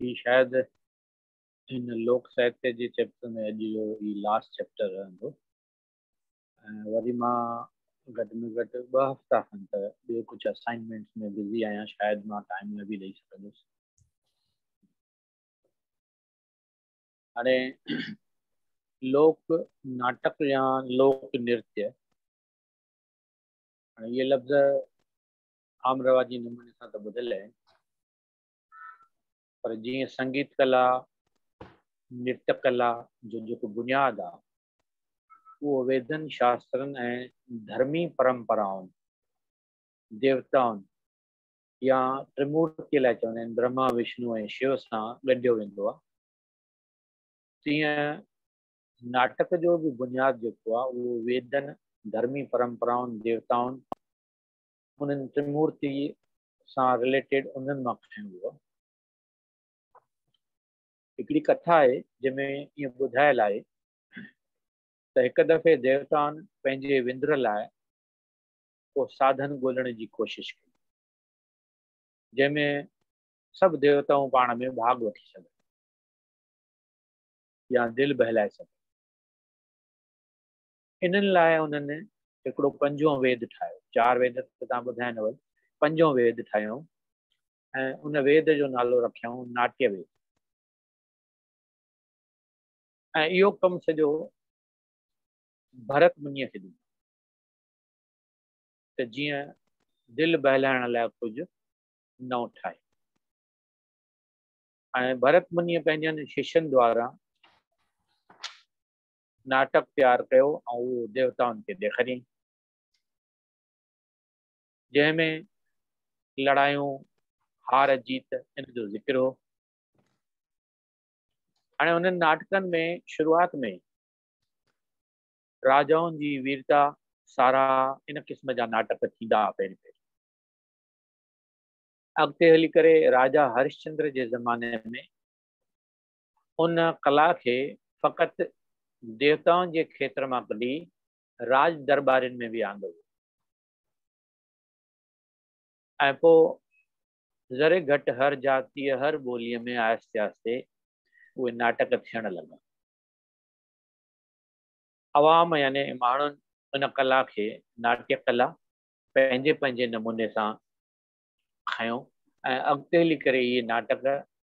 هي شايد هن لوڪ ساهتيه جي چيپٽر ۾ اڄ جو هي لاسٽ چيپٽر رهندو ۽ وري مان گهٽ ۾ گهٽ ٻه هفتا کن ته ٻيو ڪجهه اسائنمينٽس ۾ بزي آهيان شايد مان ٽائيم نه به ڏيئي سگهندس هاڻي لوڪ ناٽڪ يا لوڪ نرتي هاڻي اهي لفظ عام رواجي نموني سان ته ٻڌل آهن پر جيئن سنگيت ڪلا نرت ڪلا جو جيڪو بنياد آهي اهو ويدن شاسترن ۽ ڌرمي پرمپرائن ديوتائن يا ٽرمورتي لاء چوندا آهن برهما وشنو ۽ شو سان ڳنڍيو ويندو آهي تيئن ناٽڪ جو به بنياد جيڪو آهي اهو ويدن ڌرمي پرمپرائن ديوتائن انهن ترمورتي سان رليٽيڊ انهن مان کڻيو ويو آهي. هڪڙي ڪٿا آهي جنهن ۾ ائين ٻڌايل آهي ته هڪ دفعي ديوتائن پنهنجي وندر لاء ڪو ساڌن ڳولڻ جي ڪوشش ڪئي جنهن ۾ سڀ ديوتائون پاڻ ۾ ڀاڳ وٺي سگهن يا دل بهلائي سگهن انهن لاء انهن هڪڙو پنجون ويد ٺاهيو. چار ويد ته توهان ٻڌايا نه ويل، پنجون ويد ٺاهيائون ۽ ان ويد جو نالو رکيائون ناٽيه ويد ۽ اهو ڪم سڄو ڀرت منيء کي ڏنو ته جيئن دل بهلائڻ لاء ڪجهه نئون ٺاهي ۽ ڀرت منيء پنهنجن ششين دوارا ناٽڪ تيار ڪيو ۽ اهو ديوتائن کي ڏيکاريائين، جنهن ۾ لڙايون، هار جيت ان جو ذڪر هو. هاڻي انهن ناٽڪن ۾ شروعات ۾ ئي راجائن جي ويرتا ساراهه ان قسم جا ناٽڪ ٿيندا ها پهرين پهرين. اڳتي هلي ڪري راجا هرشچندر جي زماني ۾ ان ڪلا کي فقط ديوتائن جي کيتر مان ڪڍي راڄ درٻارين ۾ به آندو ويو ۽ پوء ذري گهٽ هر جاتيء هر ٻوليء ۾ آهستي آهستي اهي ناٽڪ ٿيڻ لڳا. عوام يعني ماڻهن ان ڪلا کي ناٽيه ڪلا پنهنجي پنهنجي نموني سان کنيو ۽ اڳتي هلي ڪري اهي ناٽڪ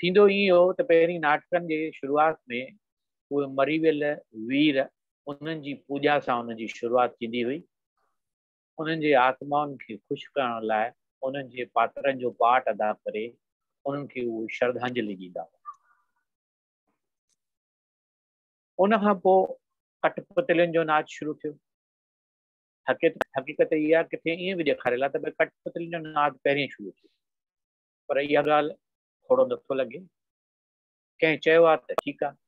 ٿيندو ائين هو ته پهرين ناٽڪن جي شروعات ۾ اهي مري ويل وير انهن جي پوڄا سان ان جي شروعات ٿيندي هئي. انهن جي آتمائن کي خوش ڪرڻ لاء انهن جي پاترن جو پارٽ ادا ڪري انهن کي اهو شرڌانجلي ڏيندا هئا. ان کان پوء ڪٽپتلين جو ناچ شروع ٿيو. حقيقت اها ڪٿي ائين به ڏيکاريل آهي ته ڪٽپتلين جو ناچ پهرين شروع ٿيو. پر اها ڳالهه ٿورو نه ٿو لڳي. ڪنهن چيو آهي ته ٺيڪ آهي.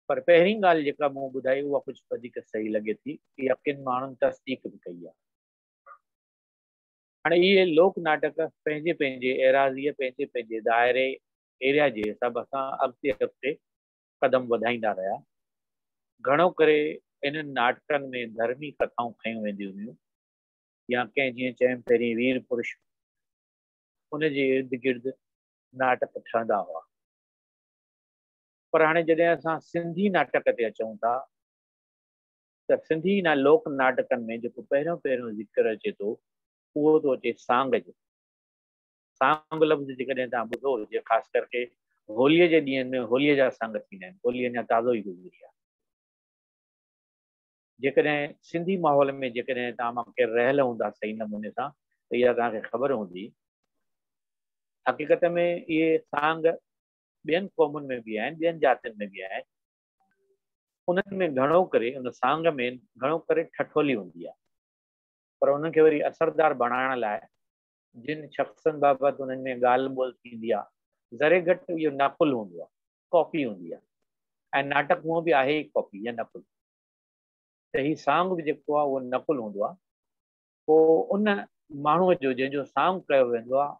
پر پهرين ڳالهه جيڪا مون ٻڌائي اها ڪجهه وڌيڪ صحيح لڳي ٿي. اها ڪن ماڻهن تصديق به ڪئي آهي. هاڻي اهي لوڪ ناٽڪ پنهنجي پنهنجي ايراضيء، پنهنجي پنهنجي دائري، Area، جي حساب سان اڳتي اڳتي قدم وڌائيندا رهيا. گهڻو ڪري انهن ناٽڪن ۾ ڌرمي ڪٿائون کنيون وينديون هيون. يا ڪنهن جيئن چيم پهرين وير پرش ان جي ارد گرد ناٽڪ ٺهندا هئا پر هاڻي جڏهن اسان سنڌي ناٽڪ تي اچون ٿا ته سنڌي نه لوڪ ناٽڪن ۾ جيڪو پهريون پهريون ذڪر اچي ٿو اهو ٿو اچي سانگ جو سانگ لفظ جيڪڏهن توهان ٻڌو هجي خاص ڪر ڪي هوليء جي ڏينهن ۾ هوليء جا سانگ ٿيندا آهن هولي اڃا تازو ئي گذري آهي جيڪڏهن سنڌي ماحول ۾ جيڪڏهن توهان مان ڪير رهيل هوندا صحيح نموني سان ته اها توهان کي خبر هوندي. حقيقت ۾ اهي سانگ ٻين قومن ۾ به آهن، ٻين ذاتين ۾ به آهن. انهن ۾ گهڻو ڪري ان سانگ ۾ گهڻو ڪري ٺٺولي هوندي آهي. پر انهن کي وري اثردار بڻائڻ لاء جن شخصن بابت انهن ۾ ڳالهه ٻولهه ٿيندي آهي، ذري گهٽ اهو نقل هوندو آهي، ڪاپي هوندي آهي ۽ ناٽڪ هونء به آهي ئي ڪاپي يا نقل. ته هي سانگ به جيڪو آهي اهو نقل هوندو آهي پوء ان ماڻهوء جو جنهن جو سانگ ڪيو ويندو آهي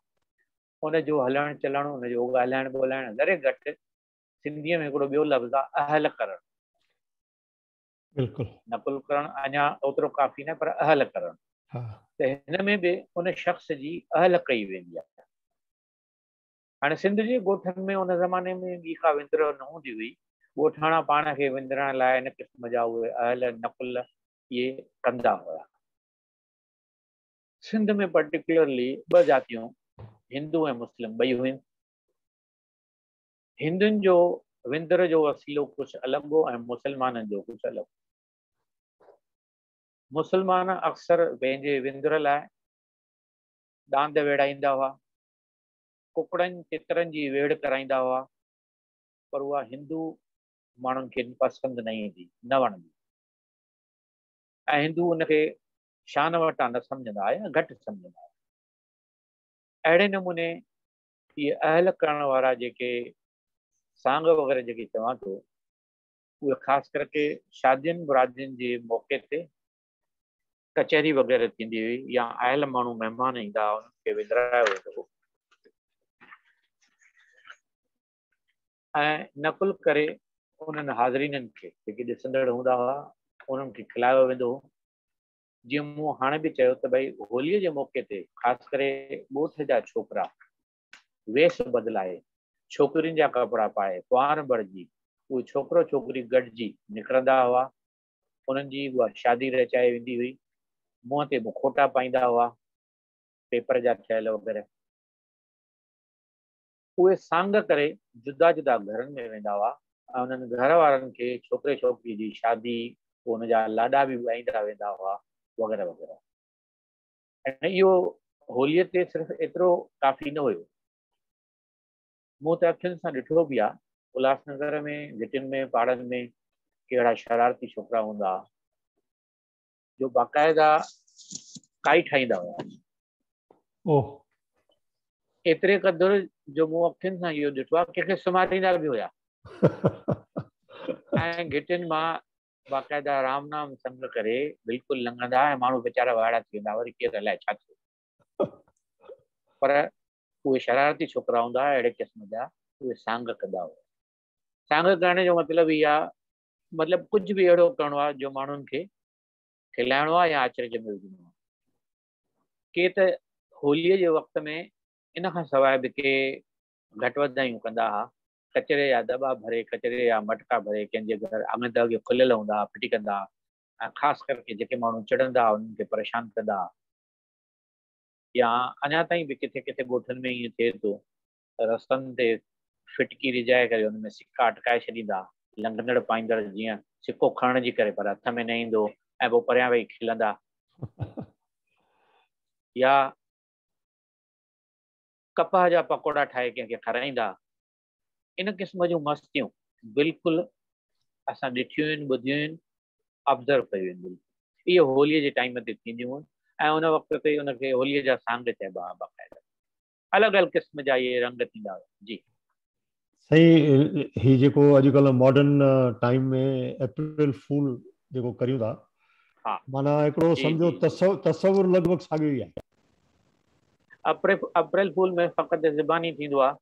ان جو هلڻ چلڻ ان جو ڳالهائڻ ٻولهائڻ ذري گهٽ سنڌيء ۾ هڪڙو ٻيو لفظ آهي اهل ڪرڻ بلڪل نقل ڪرڻ اڃا اوترو ڪافي نه پر اهل ڪرڻ ته هن ۾ به ان شخص جي اهل ڪئي ويندي آهي هاڻي سنڌ جي ڳوٺن ۾ ان زماني ۾ ٻي ڪا وندرهه نه هوندي هئي. ڳوٺاڻا پاڻ کي وندرائڻ لاء ان قسم جا اهي اهل نقل ئي ڪندا هيا. سنڌ ۾ پرٽيڪيولرلي ٻه جاتيون هندو ۽ مسلم ٻئي هيون. هندن جو وندرهه جو وسيلو ڪجهه الڳ هو ۽ مسلمانن جو ڪجهه الڳ هو. مسلمان اڪثر پنهنجي وندرهه لاء ڏاند ويڙهائيندا هئا. ڪڪڙن تترن جي ويڙهه ڪرائيندا هئا پر اها هندو ماڻهن کي پسند نه ايندي، نه وڻندي ۽ هندو ان کي شان وٽان نه سمجهندا هئا يا گهٽ سمجهندا هئا. اهڙي نموني اهي اهل ڪرڻ وارا جيڪي سانگ وغيره جيڪي چوان ٿو اهي خاص ڪرڪي شادين مرادين جي موقعي تي ڪچهري وغيره ٿيندي هئي يا آيل ماڻهو مهمان ايندا هئا انهن کي وندرايو ويندو هو ۽ نقل ڪري انهن حاضرينن کي جيڪي ڏسندڙ هوندا هئا انهن کي کلايو ويندو هو جيئن مون هاڻي به چيو ته ڀئي هوليء جي موقعي تي خاص ڪري ڳوٺ جا ڇوڪرا ويس بدلائي ڇوڪرين جا ڪپڙا پائي ڪنوار بڻجي اهي ڇوڪرو ڇوڪري گڏجي نڪرندا هئا انهن جي اها شادي رچائي ويندي هئي. منهن تي مکوٽا پائيندا هئا، پيپر جا ٺهيل وغيره. اهي سانگ ڪري جدا جدا گهرن ۾ ويندا هئا ۽ انهن گهر وارن کي ڇوڪري ڇوڪري جي شادي، پوء ان جا لاڏا به ڳائيندا ويندا هئا وغيره وغيره. ۽ اهو هوليء تي صرف ايترو ڪافي نه هيو. مون ته اکين سان ڏٺو به آ الهاس نگر ۾ گهٽين ۾ پاڙن ۾ ڪهڙا شرارتي ڇوڪرا هوندا آ جو باقاعده ڪائي ٺاهيندا هيا اوه ايتري قدر جو مون اکين سان اهو ڏٺو آ ڪنهن کي سمهاريندا به هيا ۽ گهٽين مان باقاعده رام نام سنگ ڪري بلڪل لنگهندا ۽ ماڻهو ويچارا وائڙا ٿي ويندا وري ڪير الائي ڇا ٿيو پر اهي شرارتي ڇوڪرا هوندا هئا، اهڙي قسم جا اهي سانگ ڪندا هئا. سانگ ڪرڻ جو مطلب هي آهي، مطلب ڪجهه به اهڙو ڪرڻو آهي جو ماڻهن کي کلائڻو آهي يا اچرج ۾ وجهڻو آهي. ڪي ته هوليء جي وقت ۾ ان کان سواء به ڪي گهٽ وڌايون ڪندا هئا، ڪچري جا دٻا ڀري، ڪچري جا مٽڪا ڀري، ڪنهن جي گهر اڱ ته اڳي کليل هوندا هئا، ڦٽي ڪندا هئا ۽ خاص ڪرڪي جيڪي ماڻهو چڙهندا هئا، انهن کي پريشان ڪندا هئا. يا اڃا تائين به ڪٿي ڪٿي ڳوٺن ۾ ائين ٿئي ٿو ته رستن تي ڦٽڪي رجائي ڪري ان ۾ سڪا اٽڪائي ڇڏيندا، لنگهندڙ پائيندڙ جيئن سڪو کڻڻ جي ڪري پر هٿ ۾ نه ايندو ۽ پوء پريان ويهي کلندا يا ڪپهه جا پڪوڙا ٺاهي ڪنهن کي کارائيندا. ان قسم جون مستيون بلڪل اسان ڏٺيون آهن ٻڌيون آهن Observe ڪيون آهن بلڪل اهي هوليء جي ٽائيم تي ٿينديون هون ۽ ان وقت تي ان کي هوليء جا سانگ چئبا ها باقاعده الڳ الڳ قسم جا اهي رنگ ٿيندا هيا جي. سائين هي جيڪو اڄڪلهه ماڊرن ٽائيم ۾ اپريل فول جيڪو ڪريون ٿا معنيٰ هڪڙو سمجهو تصور لڳ ڀڳ ساڳيو ئي آهي. اپريل فول ۾ فقط زباني ٿيندو آهي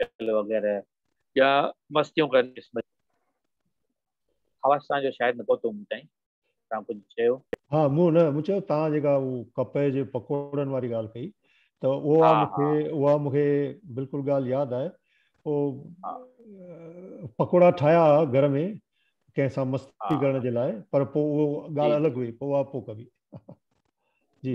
هوٽل وغيره يا مستيون ڪرڻ جي قسم جون. آواز توهان جو شايد نه پهتو مون تائين. توهان ڪجهه چيو؟ ها مون نه مون چيو توهان جيڪا هو ڪپهه جي پڪوڙن واري ڳالهه ڪئي ته اها مون کي اها مون کي بلڪل ڳالهه ياد آهي هو پڪوڙا ٺاهيا ها گهر ۾ ڪنهن سان مستي ڪرڻ جي لاء پر پوء اهو ڳالهه الڳ هئي پوء اها پوء ڪبي جي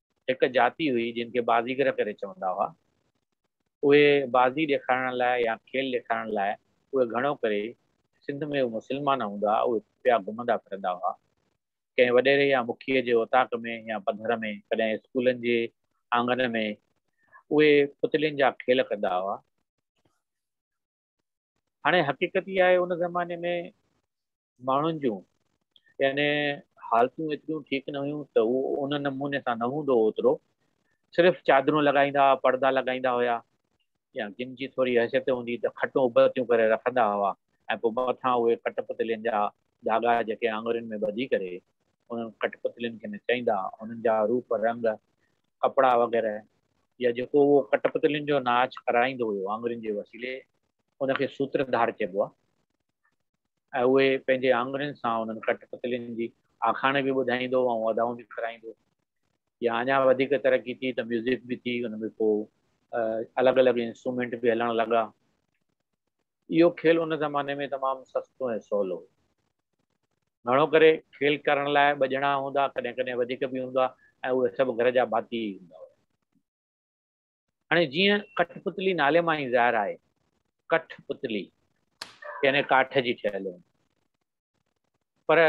هڪ جاتي هئي جن کي بازيگر ڪري چوندا هئا. اهي بازي ڏيکارڻ لاء يا کيل ڏيکارڻ لاء اهي گهڻو ڪري سنڌ ۾ اهي مسلمان هوندا هئا اهي پيا گهمندا ڦرندا هئا. ڪنهن وڏيري يا مکيء جي اوطاق ۾ يا پڌر ۾ ڪڏهن اسڪولن جي آڱن ۾ اهي پتلين جا کيل ڪندا هئا. هاڻي حقيقت اها آهي ان زماني ۾ ماڻهن جون يعني حالتون ايتريون ٺيڪ نه هيون ته هو ان نموني سان نه هوندو هو اوترو صرف چادرون لڳائيندا هئا پڙدا لڳائيندا هيا يا جن جي ٿوري حيثيت هوندي ته کٽون ابتيون ڪري رکندا هئا ۽ پوء مٿان اهي ڪٽ پتلين جا ڌاڳا جيڪي آڱرين ۾ ٻڌي ڪري انهن ڪٽ پتلين کي نچائيندا انهن جا روپ رنگ ڪپڙا وغيره يا جيڪو اهو ڪٽ پتلين جو ناچ ڪرائيندو هيو آڱرين جي وسيلي ان کي سوتر ڌار چئبو آهي ۽ اهي پنهنجي آڱرين سان انهن ڪٽ پتلين جي آکاڻي به ٻڌائيندو ۽ ادائون به ڪرائيندو يا اڃا وڌيڪ ترقي ٿي ته ميوزڪ به ٿي ان ۾ پوء الڳ الڳ انسٽرومينٽ به هلڻ لڳا اهو کيل ان زماني ۾ تمام سستو ۽ سولو هو. گهڻو ڪري کيل ڪرڻ لاء ٻه ڄڻا هوندا، ڪڏهن ڪڏهن وڌيڪ به هوندا ۽ اهي سڀ گهر جا ڀاتي ئي هوندا هيا. هاڻي جيئن ڪٺ پتلي نالي مان ئي ظاهر آهي، ڪٺ پتلي يعني ڪاٺ جي ٺهيل هوندي. پر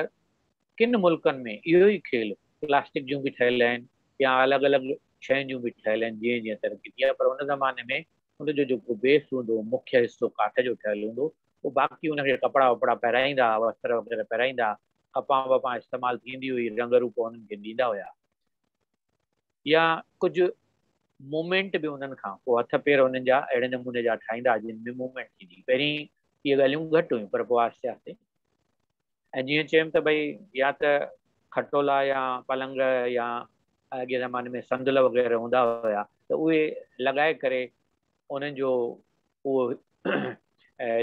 ڪن ملڪن ۾ اهو ئي کيل پلاسٽڪ جون به ٺهيل آهن يا الڳ الڳ شين جون به ٺهيل آهن جيئن جيئن ترقي ٿي آهي پر ان زماني ۾ ان جو جيڪو بيس هوندو مکيه حصو ڪاٺ جو ٺهيل هوندو هو باقي ان کي ڪپڙا وپڙا پهرائيندا هئا وستر وغيره پهرائيندا هئا ڪپان وپان استعمال ٿيندي هئي رنگ روپ انهن کي ڏيندا هيا. يا ڪجهه مومينٽ به انهن کان پوء هٿ پير انهن جا اهڙي نموني جا ٺاهيندا جن ۾ مومينٽ ٿيندي هئي. پهرين اهي ڳالهيون گهٽ هيون پر پوء آهستي آهستي ۽ جيئن چيم ته ڀئي يا ته کٽولا يا پلنگ يا اڳئين زماني ۾ صندل وغيره هوندا هيا ته اهي لڳائي ڪري انهن جو اهو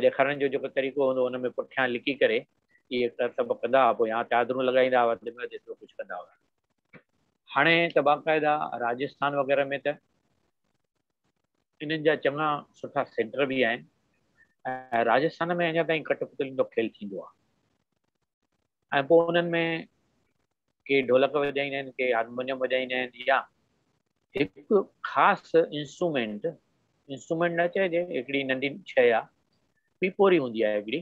ڏيکارڻ جو جيڪو طريقو هوندو ان ۾ پٺيان لڪي ڪري اهي ڪرتب ڪندا هئا پوء يا چادرون لڳائيندا هئا وڌ ۾ وڌ ايترو ڪجهه ڪندا هئا. هاڻي ته باقاعده راجسٿان وغيره ۾ ته انهن جا چڱا سٺا سينٽر به آهن ۽ راجسٿان ۾ اڃا تائين ڪٽ پتلين جو کيل ٿيندو آهي ۽ پوء انهن ۾ ڪي ڍولڪ وڄائيندا آهن ڪي هارمونيم وڄائيندا آهن يا هڪ خاص انسٽرومينٽ انسٽرومينٽ نه چئجي هڪڙي ننڍي شيء آهي پيپوري هوندي آهي هڪڙي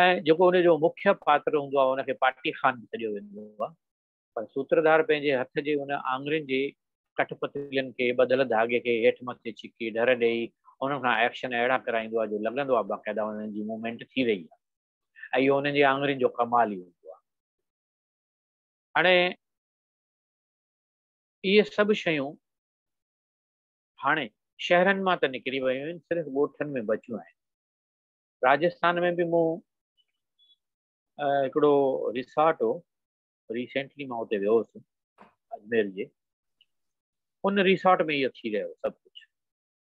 ۽ جيڪو ان جو مکيه پاتر هوندو آهي ان کي پاٽي خان به سڏيو ويندو آهي پر سوتردار پنهنجي هٿ جي ان آڱرين جي ڪٺ پتلين کي ٻڌل ڌاڳي کي هيٺ مٿي ڇڪي ڍر ڏيئي انهن کان ايڪشن اهڙا ڪرائيندو آهي جو لڳندو آهي باقاعده انهن جي موومينٽ ٿي رهي آهي ۽ اهو انهن جي آڱرين جو ڪمال ئي هوندو آهي هاڻي اهي سڀ شيون هاڻي شهرن مان ته نڪري ويون آهن صرف ڳوٺن ۾ بچيون آهن. راجسٿان ۾ به مون هڪڙو ريسارٽ هو ريسينٽلي مان اتي ويو هوس اجمير جي ان ريسارٽ ۾ اهو ٿي رهيو سڀ ڪجهه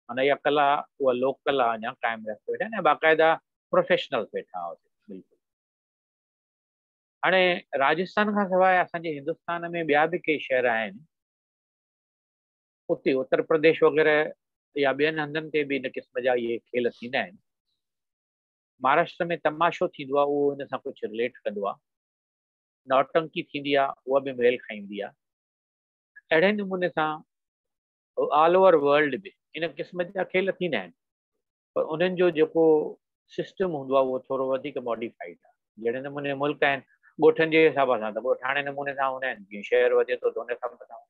معنی اها ڪلا اها لوڪ ڪلا اڃا قائم رکي ويٺا آهن باقاعده پروفيشنل ويٺا هئا بلڪل هاڻي راجسٿان کان سواء اسان جي هندستان ۾ ٻيا به ڪي شهر آهن اتي اتر پرديش وغيره يا ٻين هنڌن تي به ان قسم جا اهي کيل ٿيندا آهن مهاراشٽر ۾ تماشو ٿيندو آهي اهو ان سان ڪجهه رليٽ ڪندو آهي نوٽنڪي ٿيندي آهي اها به ميل کائيندي آهي اهڙي نموني سان آل اوور ورلڊ به ان قسم جا کيل ٿيندا آهن پر انهن جو جيڪو سسٽم هوندو آهي اهو ٿورو وڌيڪ ماڊيفائيڊ آهي جهڙي نموني ملڪ آهن ڳوٺن جي حساب سان ته ڳوٺاڻي نموني سان هوندا آهن جيئن شهر وڌي ٿو ته ان حساب سان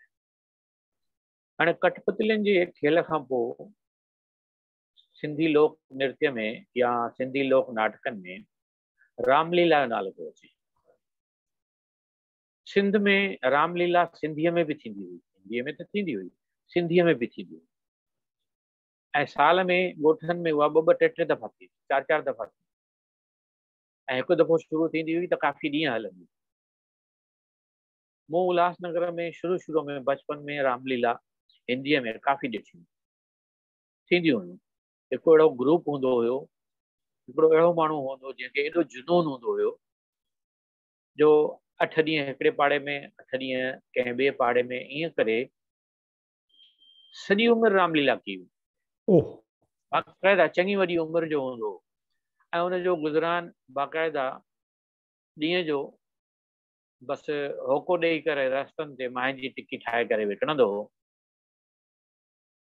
هاڻي ڪٺپتلين جي کيل کان پوء سنڌي لوڪ نرتي ۾ يا سنڌي لوڪ ناٽڪن ۾ رام ليلا جو نالو ٿو اچي. سنڌ ۾ رام ليلا سنڌيء ۾ به ٿيندي هئي، هنديء ۾ ته ٿيندي هئي، سنڌيء ۾ به ٿيندي هئي. ۽ سال ۾ ڳوٺن ۾ اها ٻه ٻه ٽي ٽي دفعا ٿيندي، چار چار دفعا ٿيندي. ۽ هڪ دفعو شروع ٿيندي هئي ته ڪافي ڏينهن هلندي. مون الهاس نگر ۾ شروع شروع ۾ بچپن ۾ رام ليلا هنديء ۾ ڪافي ڏٺيون ٿينديون هيون. هڪ اهڙو گروپ هوندو هيو، هڪڙو اهڙو ماڻهو هوندو جنهن کي ايڏو جنون هوندو هيو جو اٺ ڏينهن هڪڙي پاڙي ۾ اٺ ڏينهن ڪنهن ٻئي پاڙي ۾ ائين ڪري سڄي عمر رام ليلا ڪئي هئي. باقاعده چڱي وڏي عمر جو هوندو هو ۽ ان جو گذران باقاعده ڏينهن جو بس هوڪو ڏيئي ڪري رستن تي مانهن جي ٽڪي ٺاهي ڪري وڪڻندو هو.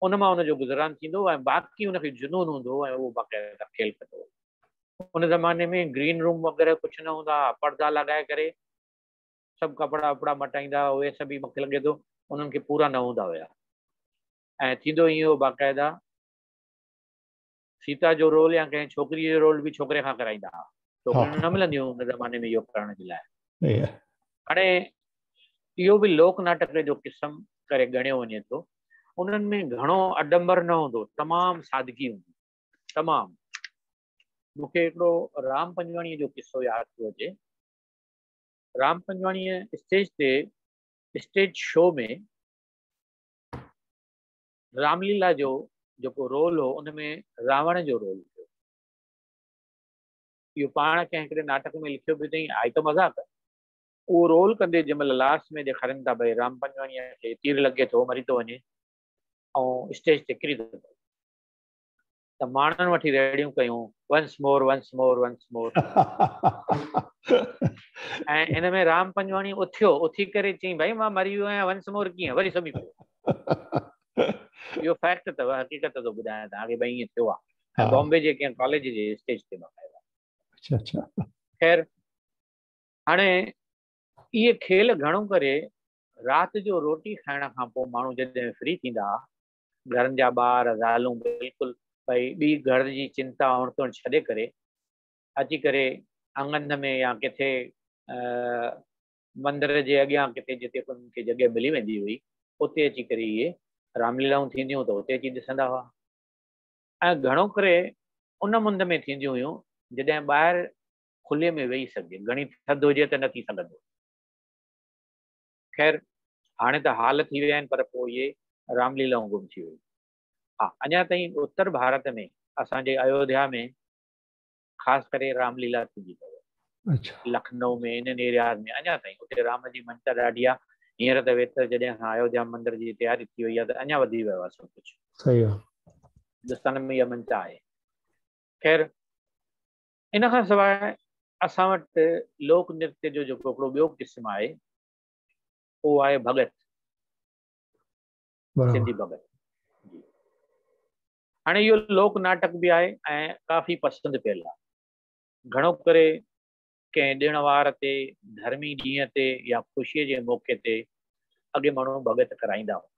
ان مان ان جو گذران ٿيندو هو ۽ باقي ان کي جنون هوندو هو ۽ اهو باقاعده کيل ڪندو هو. ان زماني ۾ گرين روم وغيره ڪجهه نه هوندا ها، پڙدا لڳائي ڪري سڀ ڪپڙا وپڙا مٽائيندا ها، اهي سڀ ئي مون کي لڳي ٿو انهن کي پورا نه هوندا هيا ۽ ٿيندو ائين هو باقاعده سيتا جو رول يا ڪنهن ڇوڪريء جو رول به ڇوڪري کان ڪرائيندا ها. ڇوڪريون نه ملنديون هيون ان زماني ۾ اهو ڪرڻ جي لاء. هاڻي اهو به لوڪ ناٽڪ جو قسم ڪري ڳڻيو وڃي ٿو. انهن ۾ گهڻو اڏمبر نه هوندو هو. تمام سادگي هوندي هئي. تمام. مون کي هڪڙو رام پنجواڻيء جو قصو ياد ٿو اچي. رام پنجواڻيء اسٽيج تي اسٽيج شو ۾ رام ليلا جو جيڪو رول هو ان ۾ راوڻ جو رول هو اهو پاڻ ڪنهن هڪڙي ناٽڪ ۾ لکيو به اٿئي آهي ته مذاق اهو رول ڪندي جنهن مهل لاسٽ ۾ ڏيکارين ٿا ڀئي رام پنجواڻيء کي تير لڳي ٿو مري ٿو وڃي ۽ اسٽيج تي ڪري ٿو پوي ته ماڻهن وٺي ريڙهيون ڪيون once more once more once more ۽ ان ۾ رام پنجواڻي اٿيو اٿي ڪري چيائين ڀائي مان مري ويو آهيان ونس مور ڪيئن وري سمي پيو اهو فيڪٽ اٿو حقيقت ٿو ٻڌايان توهان کي ڀائي ائين ٿيو آهي بامبي جي ڪنهن ڪاليج جي اسٽيج تي بقايا اچھا اچھا خير هاڻي اهي کيل گهڻو ڪري رات جو روٽي کائڻ کان پوء ماڻهو جڏهن فري ٿيندا گهرن جا ٻار، زالون بلڪل ڀئي ٻي گهر جي چنتا هڻ تڻ ڇڏي ڪري اچي ڪري اڱن ۾ يا ڪٿي مندر جي اڳيان ڪٿي جتي انهن کي جڳهه ملي ويندي هئي اتي اچي ڪري اهي رام ليلائون ٿينديون ته اتي اچي ڏسندا هئا ۽ گهڻو ڪري ان مند ۾ ٿينديون هيون جڏهن ٻاهر کلي ۾ ويهي سگهجي گهڻي ٿڌ هجي ته نه ٿي سگهندو خير هاڻي ته حال ٿي ويا آهن پر پوء اهي رام ليلائون گم ٿي ويون. ها اڃا تائين اتر ڀارت ۾ اسان جي ايوڌيا ۾ خاص ڪري رام ليلا ٿيندي اٿو. لکنؤ ۾ انهن ايرياز ۾ اڃا تائين اتي رام جي مڃتا ڏاڍي آهي. هينئر ته ويتر جڏهن اسان ايوڌيا مندر جي تياري ٿي وئي آهي ته اڃا وڌي ويو آهي سڀ ڪجهه. صحيح آهي. هندستان ۾ اها مڃتا آهي. خير ان کان سواء اسان وٽ لوڪ نرتيا جو جيڪو هڪڙو ٻيو قسم آهي اهو آهي ڀڳت سنڌي ڀڳت هاڻي اهو لوڪ ناٽڪ به آهي ۽ ڪافي پسند ڪيل آهي گهڻو ڪري ڪنهن ڏڻ وار تي ڌرمي ڏينهن تي يا خوشي جي موقعي تي اڳي ماڻهو ڀڳت ڪرائيندا هئا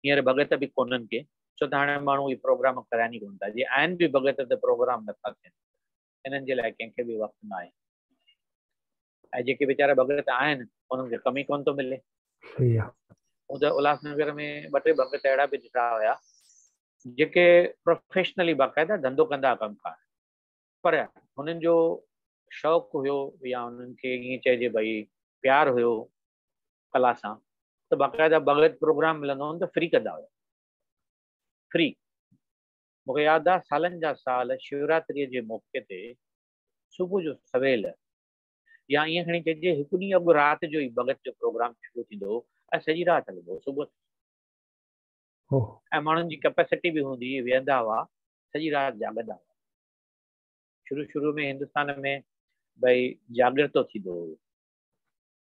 هينئر ڀڳت به ڪونهن ڪي، ڇو ته هاڻي ماڻهو اهي پروگرام ڪرائين ئي ڪونه ٿا، جي آهن به ڀڳت ته پروگرام نه ٿا ٿين، انهن جي لاء ڪنهن کي به وقت نه آهي. ۽ جيڪي ويچارا ڀڳت آهن انهن کي ڪم ئي ڪونه ٿو ملي. صحيح آ. مون ته الهاس نگر ۾ ٻه ٽي ڀڳت اهڙا به ڏٺا هيا جيڪي پروفيشنلي باقاعده ڌنڌو ڪندا هئا ڪم ڪار پر هنن جو شوق هيو يا هنن کي ائين چئجي ڀئي پيار هيو ڪلا سان ته باقاعده بغير پروگرام ملندو هو ته فري ڪندا هيا فري مون کي ياد آهي سالن جا سال شوراتري جي موقعي تي صبح جو سويل يا ائين کڻي چئجي هڪ ڏينهن اڳ رات جو ئي بغت جو پروگرام شروع ٿيندو هو ۽ سڄي رات هلندو هو صبح ۽ ماڻهن جي ڪيپيسٽي به هوندي هئي ويهندا هئا سڄي رات جاڳندا هئا شروع شروع ۾ هندستان ۾ ڀئي جاڳر ٿو ٿيندو هو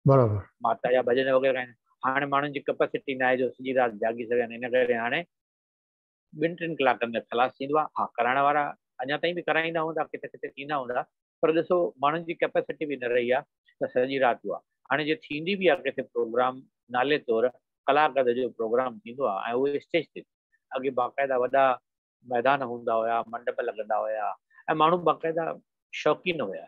برابر. ماتا جا ڀڄن وغيره ڳائيندا آهن. هاڻي ماڻهن جي ڪپيسٽي ناهي جو سڄي رات جاڳي سگهن ان ڪري هاڻي ٻن ٽن ڪلاڪن ۾ خلاص ٿيندو آهي. ها ڪرائڻ وارا اڃا تائين به ڪرائيندا هوندا ڪٿي ڪٿي ٿيندا هوندا پر ڏسو ماڻهن جي ڪپيسٽي به نه رهي آهي ته سڄي رات اها هاڻي جي ٿيندي به آهي ڪٿي پروگرام نالي طور ڪلاڪ اڌ جو پروگرام ٿيندو آهي ۽ اهو اسٽيج تي اڳي باقاعده وڏا ميدان هوندا هيا منڊپ لڳندا هيا ۽ ماڻهو باقاعده شوقين هيا.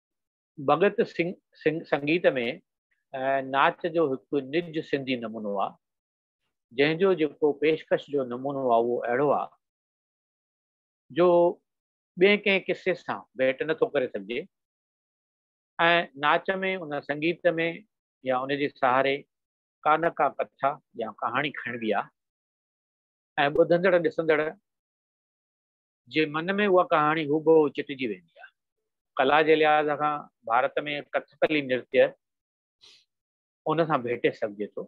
ڀڳت سنگهه سنگيت ۾ ناچ جو هڪ نج سنڌي نمونو آ، جنهن جو جيڪو پيشڪش جو نمونو آ اهو اهڙو آ، جو ٻئي ڪنهن قصي سان ڀيٽ نه ٿو ڪري سگهجي ۽ ناچ ۾ ان سنگيت ۾ يا ان جي سهاري ڪا نه ڪا ڪٿا يا ڪهاڻي کڻبي آ ۽ ٻڌندڙ ڏسندڙ جي من ۾ اها ڪهاڻي هوبهو چٽجي ويندي آهي. ڪلا جي لحاظ کان ڀارت ۾ ڪٿڪلي نرتيه ان سان ڀيٽي سگهجي ٿو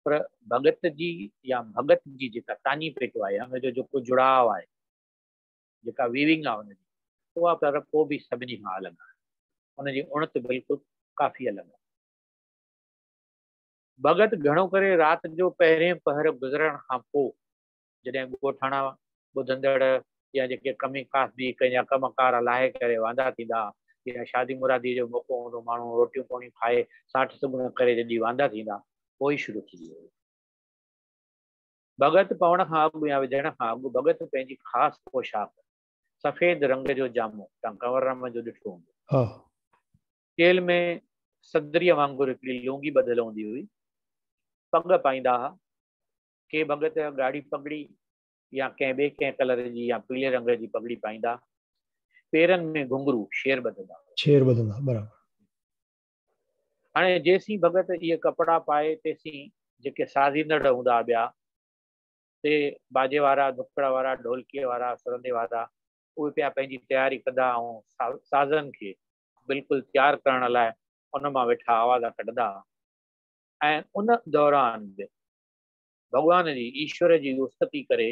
پر ڀڳت جي يا ڀڳت جي جيڪا تاڃي پيٽو آهي ان جو جيڪو جڙاء آهي جيڪا ويونگ آهي ان جي اها پر پوء به سڀني کان الڳ آهي ان جي اڻت بلڪل ڪافي الڳ آهي ڀڳت گهڻو ڪري رات جو پهرين پهر گذرڻ کان پوء جڏهن ڳوٺاڻا ٻڌندڙ يا جيڪي ڪمي ڪاسبي ڪن يا ڪم ڪار لاهي ڪري واندا ٿيندا يا شادي مرادي جو موقعو هوندو ماڻهو روٽيون پوڻيون کائي ساٺ سڳڻو ڪري جڏي واندا ٿيندا پوء شروع ٿيندي هئي. ڀڳت پوڻ کان اڳ يا وجهڻ کان اڳ ڀڳت پنهنجي خاص پوشاڪ، سفيد رنگ جو جامو تان ڪنور رحمن جو ڏٺو هوندو. چيلهه ۾ صدريء وانگر هڪڙي لونگي ٻڌل هوندي هئي. پڳ پائيندا ها. ڪي ڀڳت ڳاڙهي پڳڙي يا ڪنهن ٻئي ڪنهن ڪلر جي يا پيلي رنگ جي پڳڙي پائيندا، پيرن ۾ گهنگهرو، شير ٻڌندا. شير ٻڌندا، برابر. هاڻي جيسين ڀڳت اهي ڪپڙا پائي تيسين جيڪي سازيندڙ هوندا ٻيا، سي باجي وارا، ڌڪڙ وارا، ڍولڪي وارا، سرندي وارا، اهي پيا پنهنجي تياري ڪندا ۽ سازن کي بلڪل تيار ڪرڻ لاء ان مان ويٺا آوازا ڪڍندا ۽ ان دوران به ڀڳوان جي، ايشور جي استتي ڪري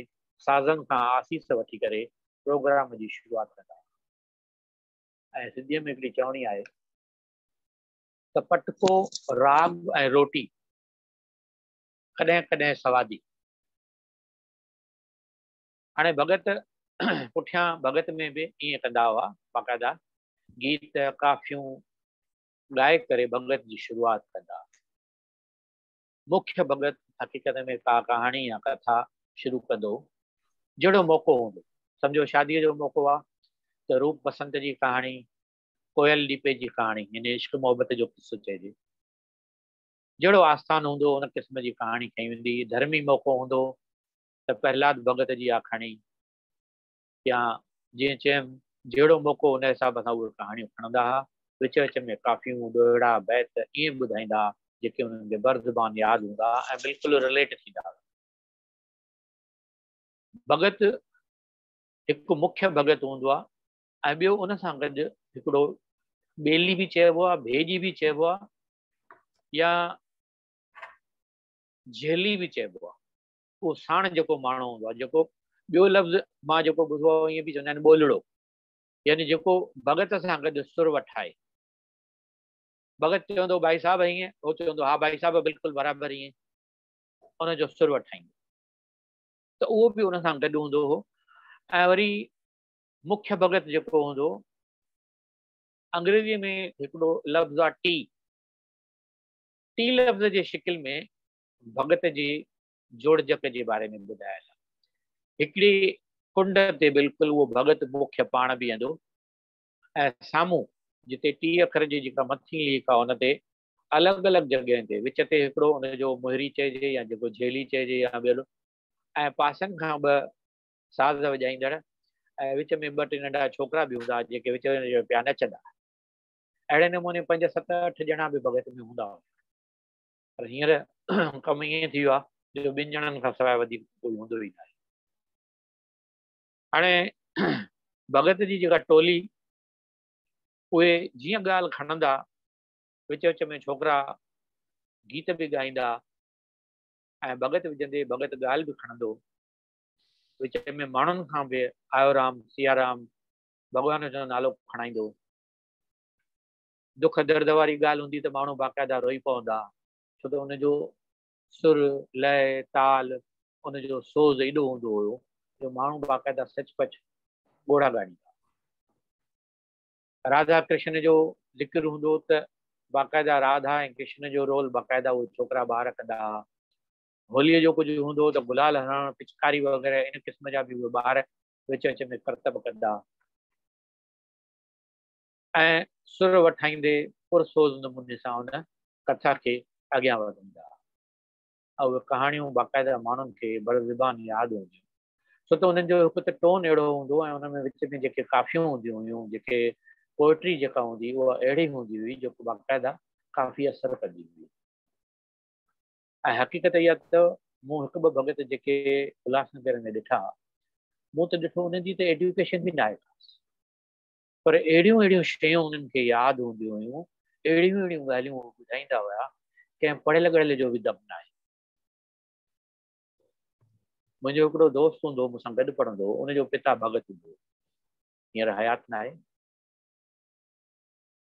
سازن کان آسيس وٺي ڪري پروگرام جي شروعات ڪندا آهن ۽ سنڌيء ۾ هڪڙي چوڻي آهي ته پٽڪو راڳ ۽ روٽي ڪڏهن ڪڏهن سوادي هاڻي ڀڳت پٺيان ڀڳت ۾ به ائين ڪندا هئا باقاعده گيت ڪافيون ڳائي ڪري ڀڳت جي شروعات ڪندا مکيه ڀڳت حقيقت ۾ ڪا ڪهاڻي يا ڪٿا شروع ڪندو، جهڙو موقعو هوندو. سمجهو شاديء جو موقعو آ ته روپ بسنت جي ڪهاڻي، ڪوئل ڏيپي جي ڪهاڻي يعني عشق محبت جو قصو چئجي. جهڙو آستان هوندو ان قسم جي ڪهاڻي کنئي ويندي. ڌرمي موقعو هوندو ته پرهلاد ڀڳت جي آکاڻي. يا جيئن چيم جهڙو موقعو ان حساب سان اهي ڪهاڻيون کڻندا ها، وچ وچ ۾ ڪافيون، ڏوهيڙا، بيت ائين ٻڌائيندا ها جيڪي انهن کي بر زبان ياد هوندا ها ۽ بلڪل رليٽ ٿيندا هئا. ڀڳت هڪ مکيه ڀڳت هوندو آهي ۽ ٻيو ان سان گڏ هڪڙو ٻيلي به چئبو آهي، ڀيڄي به چئبو آهي يا جهلي به چئبو آهي. اهو ساڻ جيڪو ماڻهو هوندو آهي، جيڪو ٻيو لفظ مان جيڪو ٻڌو آهي ائين به چوندا آهن ٻولڙو، يعني جيڪو ڀڳت سان گڏ سر وٺائي. ڀڳت چوندو ڀائي صاحب ائين، هو چوندو ها ڀائي صاحب بلڪل برابر ائين، ان جو سر وٺائيندو. ته اهو به ان سان گڏ هوندو هو ۽ وري مکيه ڀڳت جيڪو هوندو انگريزي ۾ هڪڙو لفظ آهي ٽي ٽي لفظ جي شڪل ۾ ڀڳت جي جوڙجڪ جي باري ۾ ٻڌايل آهي. هڪڙي ڪنڊ تي بلڪل اهو ڀڳت مکيه پاڻ بيهندو ۽ سامهون جتي ٽي اکر جي جيڪا مٿين ليڪ آهي ان تي الڳ الڳ جڳهين تي وچ تي هڪڙو ان جو مهري چئجي يا جيڪو جهيلي چئجي يا ٻيلو ۽ پاسن کان ٻه ساز وڄائيندڙ ۽ وچ ۾ ٻه ٽي ننڍا ڇوڪرا به هوندا جيڪي وچ وچ ۾ پيا نچندا. اهڙي نموني پنج ست اٺ ڄڻا به ڀڳت ۾ هوندا هئا. پر هينئر ڪم ائين ٿي ويو آهي جو ٻن ڄڻن کان سواء وڌيڪ ڪوئي هوندو ئي ناهي. هاڻي ڀڳت جي جيڪا ٽولي اهي جيئن ڳالهه کڻندا وچ وچ ۾ ڇوڪرا گيت به ڳائيندا ۽ ڀڳت وجهندي ڀڳت ڳالهه به کڻندو وچ ۾ ماڻهن کان به آيو رام سيارام ڀڳوان جو نالو کڻائيندو دک درد واري ڳالهه هوندي ته ماڻهو باقاعده روئي پوندا ڇو ته ان جو سر، لئه، تال، ان جو سوز ايڏو هوندو هيو جو ماڻهو باقاعده سچ پچ ڳوڙها ڳاڙيندا هئا. راڌا ڪرشن جو ذڪر هوندو ته باقاعده راڌا ۽ ڪرشن جو رول باقاعده اهي ڇوڪرا ٻار ڪندا هئا. هوليء جو ڪجهه هوندو ته گلال هڻڻ، پچڪاري وغيره ان قسم جا به اهي ٻار وچ وچ ۾ ڪرتب ڪندا. ۽ سر وٺائيندي پرسوز نموني سان ان ڪٿا کي اڳيان وڌائيندا. اهي ڪهاڻيون باقاعده ماڻهن کي بر زبان ياد هونديون ڇو ته انهن جو هڪ ته ٽون اهڙو هوندو ۽ ان ۾ وچ ۾ جيڪي ڪافيون هونديون هيون جيڪي پوئٽري جيڪا هوندي اها اهڙي هوندي هئي جو باقاعده ڪافي اثر ڪندي هئي ۽ حقيقت اها ته مون هڪ ٻه ڀڳت جيڪي الهاس نگر ۾ ڏٺا مون ته ڏٺو انهن جي ته ايڊيوڪيشن به ناهي خاص پر اهڙيون اهڙيون شيون انهن کي ياد هونديون هيون، اهڙيون اهڙيون ڳالهيون هو ٻڌائيندا هيا، ڪنهن پڙهيل ڳڙهيل جو به دم ناهي. منهنجو هڪڙو دوست هوندو هو، مون سان گڏ پڙهندو هو، ان جو پتا ڀڳت هوندو هو، هينئر حيات ناهي.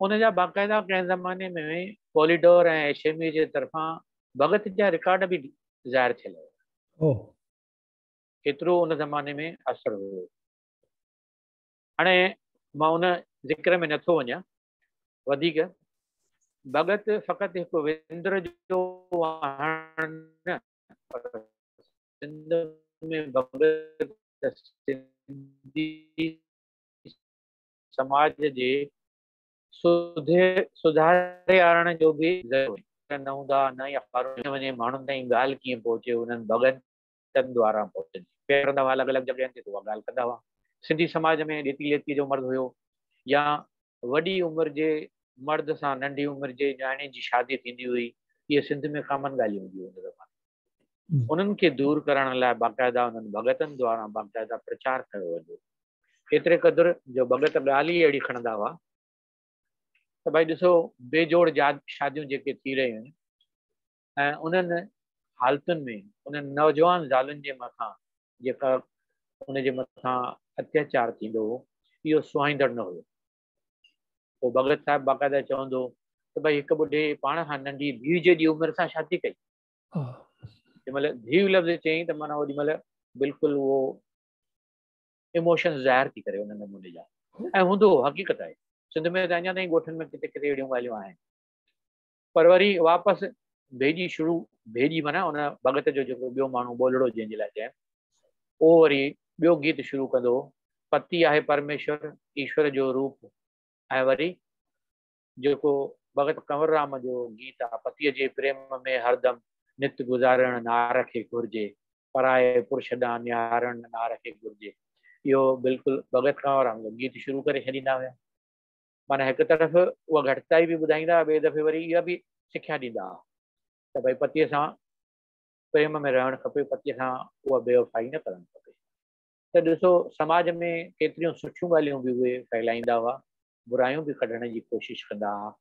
ان جا باقاعده ڪنهن زماني ۾ پوليڊور ۽ ايشيمي جي طرفان ڀڳت جا رڪارڊ به ظاهر ٿيل هيا. ايترو ان زماني ۾ اثر هيو. هاڻي مان ان ذڪر ۾ نٿو وڃان وڌيڪ، ڀڳت فقط هڪ وندر جو آهن نه پر سنڌ ۾ ڀڳت سنڌي سماج جي سڌي سڌاريارڻ جو به ذريعو آهن. نه هوندا نه اخبارون ۾ وڃي ماڻهن تائين ڳالهه ڪيئن پهچي انهن ڀڳن ٽن ڏواران پهچن جي پيا ڪرندا هئا الڳ الڳ جڳهين تي ته اها ڳالهه ڪندا هئا سنڌي سماج ۾ ڏيتي ليتي جو مرض هيو يا وڏي عمر جي مرد سان ننڍي عمر جي نياڻي جي شادي ٿيندي هئي اهي سنڌ ۾ ڪامن ڳالهيون هونديون هن زماني انهن کي دور ڪرڻ لاء باقاعده انهن ڀڳتن دواران باقاعده پرچار ڪيو ويندو ايتري قدر جو ڀڳت ڳالهه ئي اهڙي کڻندا هئا ته ڀائي ڏسو بي جوڙ جاد شاديون جيڪي ٿي رهيون آهن ۽ انهن حالتن ۾ انهن نوجوان زالن جي مٿان جيڪا ان جي مٿان اتياچار ٿيندو هو اهو سهائيندڙ نه هيو. پوء ڀڳت صاحب باقاعده چوندو هو ته ڀئي هڪ ٻڍي پاڻ کان ننڍي ڌيء جيڏي عمر سان شادي ڪئي. جنهن مهل ڌيء لفظ چيائين ته معنيٰ اوڏي مهل بلڪل اهو ايموشنز ظاهر ٿي ڪري ان نموني جا ۽ هوندو هو حقيقت آهي سنڌ ۾ ته اڃا تائين ڳوٺن ۾ ڪٿي ڪٿي اهڙيون ڳالهيون آهن. پر وري واپس ڀيڄي شروع ڀيڄي معنيٰ ان ڀڳت جو جيڪو ٻيو ماڻهو ٻولڙو جنهن جي لاء چيم اهو وري ٻيو گيت شروع ڪندو هو پتي آهي پرميشور ايشور جو روپ ۽ وري جيڪو ڀڳت ڪنور رام جو گيت آهي پتيء جي پريم ۾ هردم نت گذارڻ نار کي گهرجي پرائي پرش ڏانهن نهارڻ نار کي گهرجي اهو بلڪل ڀڳت ڪنور رام جو گيت شروع ڪري ڇڏيندا هيا. معنيٰ هڪ طرف اها گهٽتائي به ٻڌائيندا هئا، ٻئي دفعي وري اها به سکيا ڏيندا هئا ته ڀئي پتيء سان پريم ۾ رهڻ کپي، پتيء سان اها بيوفائي نه ڪرڻ کپي. ته ڏسو سماج ۾ ڪيتريون سٺيون ڳالهيون به اهي ڦهلائيندا هئا، برايون به ڪڍڻ جي ڪوشش ڪندا هئا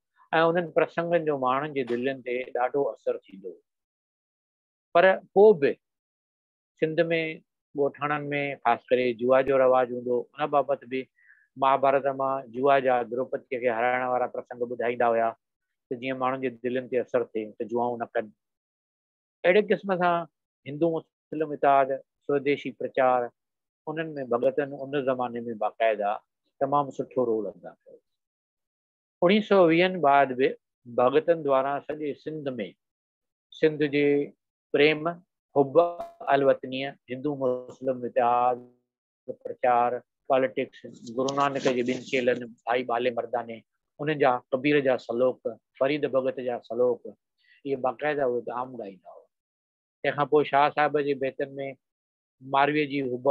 ۽ انهن پرسنگن جو ماڻهن جي دلين تي ڏاڍو اثر ٿيندو هو. پر پوء به سنڌ ۾ ڳوٺاڻن ۾ خاص ڪري جوا جو رواج هوندو هو، ان بابت به مهاڀارت مان جوا جا دروپديء کي هرائڻ وارا پرسنگ ٻڌائيندا هيا ته جيئن ماڻهن جي دلين تي اثر ٿئي ته جوئائون نه ڪن. اهڙي قسم سان هندو مسلم اتحاد، سوديشي پرچار، انهن ۾ ڀڳتن ان زماني ۾ باقاعده تمام سٺو رول ادا ڪيو. اوڻيهه سؤ ويهن بعد به ڀڳتن دواران سڄي سنڌ ۾ سنڌ جي پريم، حب الوطنيء، هندو مسلم اتحاد، پرچار، پاليٽڪس، گرو نانڪ جي ٻن چيلن ڀائي ٻالي مرداني، انهن جا ڪبير جا سلوڪ، فريد ڀڳت جا سلوڪ، اهي باقاعده اهي عام ڳائيندا هئا. تنهن کان پوء شاهه صاحب جي بيتن ۾ مارويء جي حب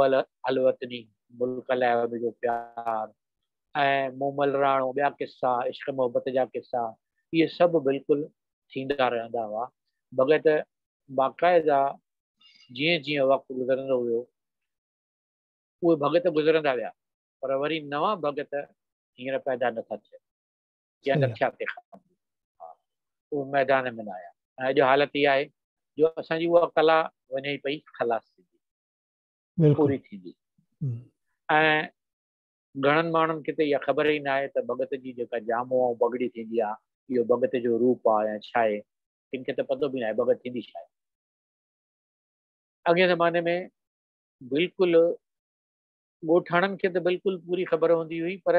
الوطني، ملڪ لاء هن جو پيار ۽ مون ملراڻو ٻيا قصا، عشق محبت جا قصا، اهي سڀ بلڪل ٿيندا رهندا هئا. ڀڳت باقاعده جيئن جيئن وقت گذرندو ويو، اهي ڀڳت گذرندا ويا، پر وري نوان ڀڳت هينئر پيدا نه ٿا ٿين. جنهن جا ٿيا تيکا ها اهو ميدان ۾ نه آيا ۽ اڄ حالت اها آهي جو اسان جي اها ڪلا وڃي ئي پئي خلاص ٿيندي پوري ٿيندي ۽ گهڻن ماڻهن کي ته اها خبر ئي نه آهي ته ڀڳت جي جيڪا جامو ۽ پڳڙي ٿيندي آهي اهو ڀڳت جو روپ آهي يا ڇا آهي ڪن کي ته پتو به نه آهي ڀڳت ٿيندي ڇا آهي اڳئين زماني ۾ بلڪل ڳوٺاڻن کي ته بلڪل پوري خبر هوندي هئي پر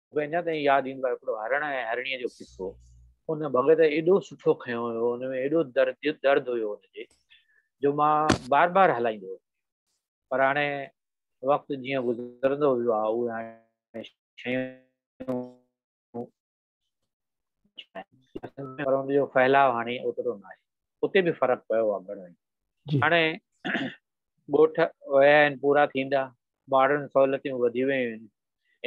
مون کي اڃا تائين ياد ايندو آهي هڪڙو هرڻ ۽ هرڻيء جو قصو. ان ڀڳت ايڏو سٺو کنيو هيو، ان ۾ ايڏو درد هيو ان جي، جو مان بار بار هلائيندو هيس. پر هاڻي وقت جيئن گذرندو ويو آهي، اهي هاڻي شيون پر ان جو ڦهلاء هاڻي اوترو نه آهي. اتي به فرق پيو آهي گهڻو ئي. هاڻي ڳوٺ ويا آهن پورا ٿيندا، ماڊرن سهولتيون وڌي ويون آهن،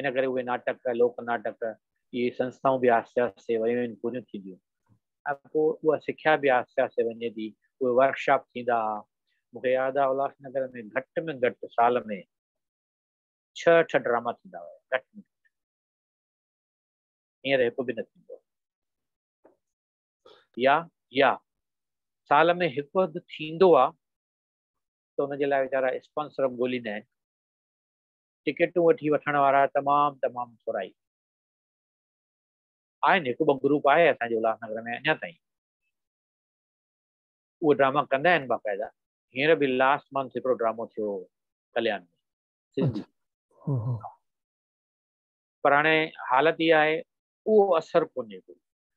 ان ڪري اهي ناٽڪ، لوڪ ناٽڪ، اهي سنسٿائون به آهستي آهستي ويون آهن پوريون ٿينديون ۽ پوء اها سکيا به آهستي آهستي وڃي ٿي، اهي ورڪ شاپ ٿيندا ها، مون کي ياد آهي الهاس نگر ۾ گهٽ ۾ گهٽ سال ۾ ڇهه اٺ ڊراما ٿيندا هيا گهٽ ۾ گهٽ، هينئر هڪ به نه ٿيندو آهي يا يا سال ۾ هڪ اڌ ٿيندو آهي ته ان جي لاء ويچارا اسپانسر به ڳوليندا آهن ٽڪيٽون وٺي وٺڻ وارا تمام تمام ٿورا ئي آهن هڪ ٻه گروپ آهي اسان جي الهاس نگر ۾ اڃا تائين اهي ڊراما ڪندا آهن باقاعده هينئر به لاسٽ منٿ هڪڙو ڊرامو ٿيو هو ڪليان ۾ سنڌي پر هاڻي حالت اها آهي اهو اثر ڪونهي ڪو.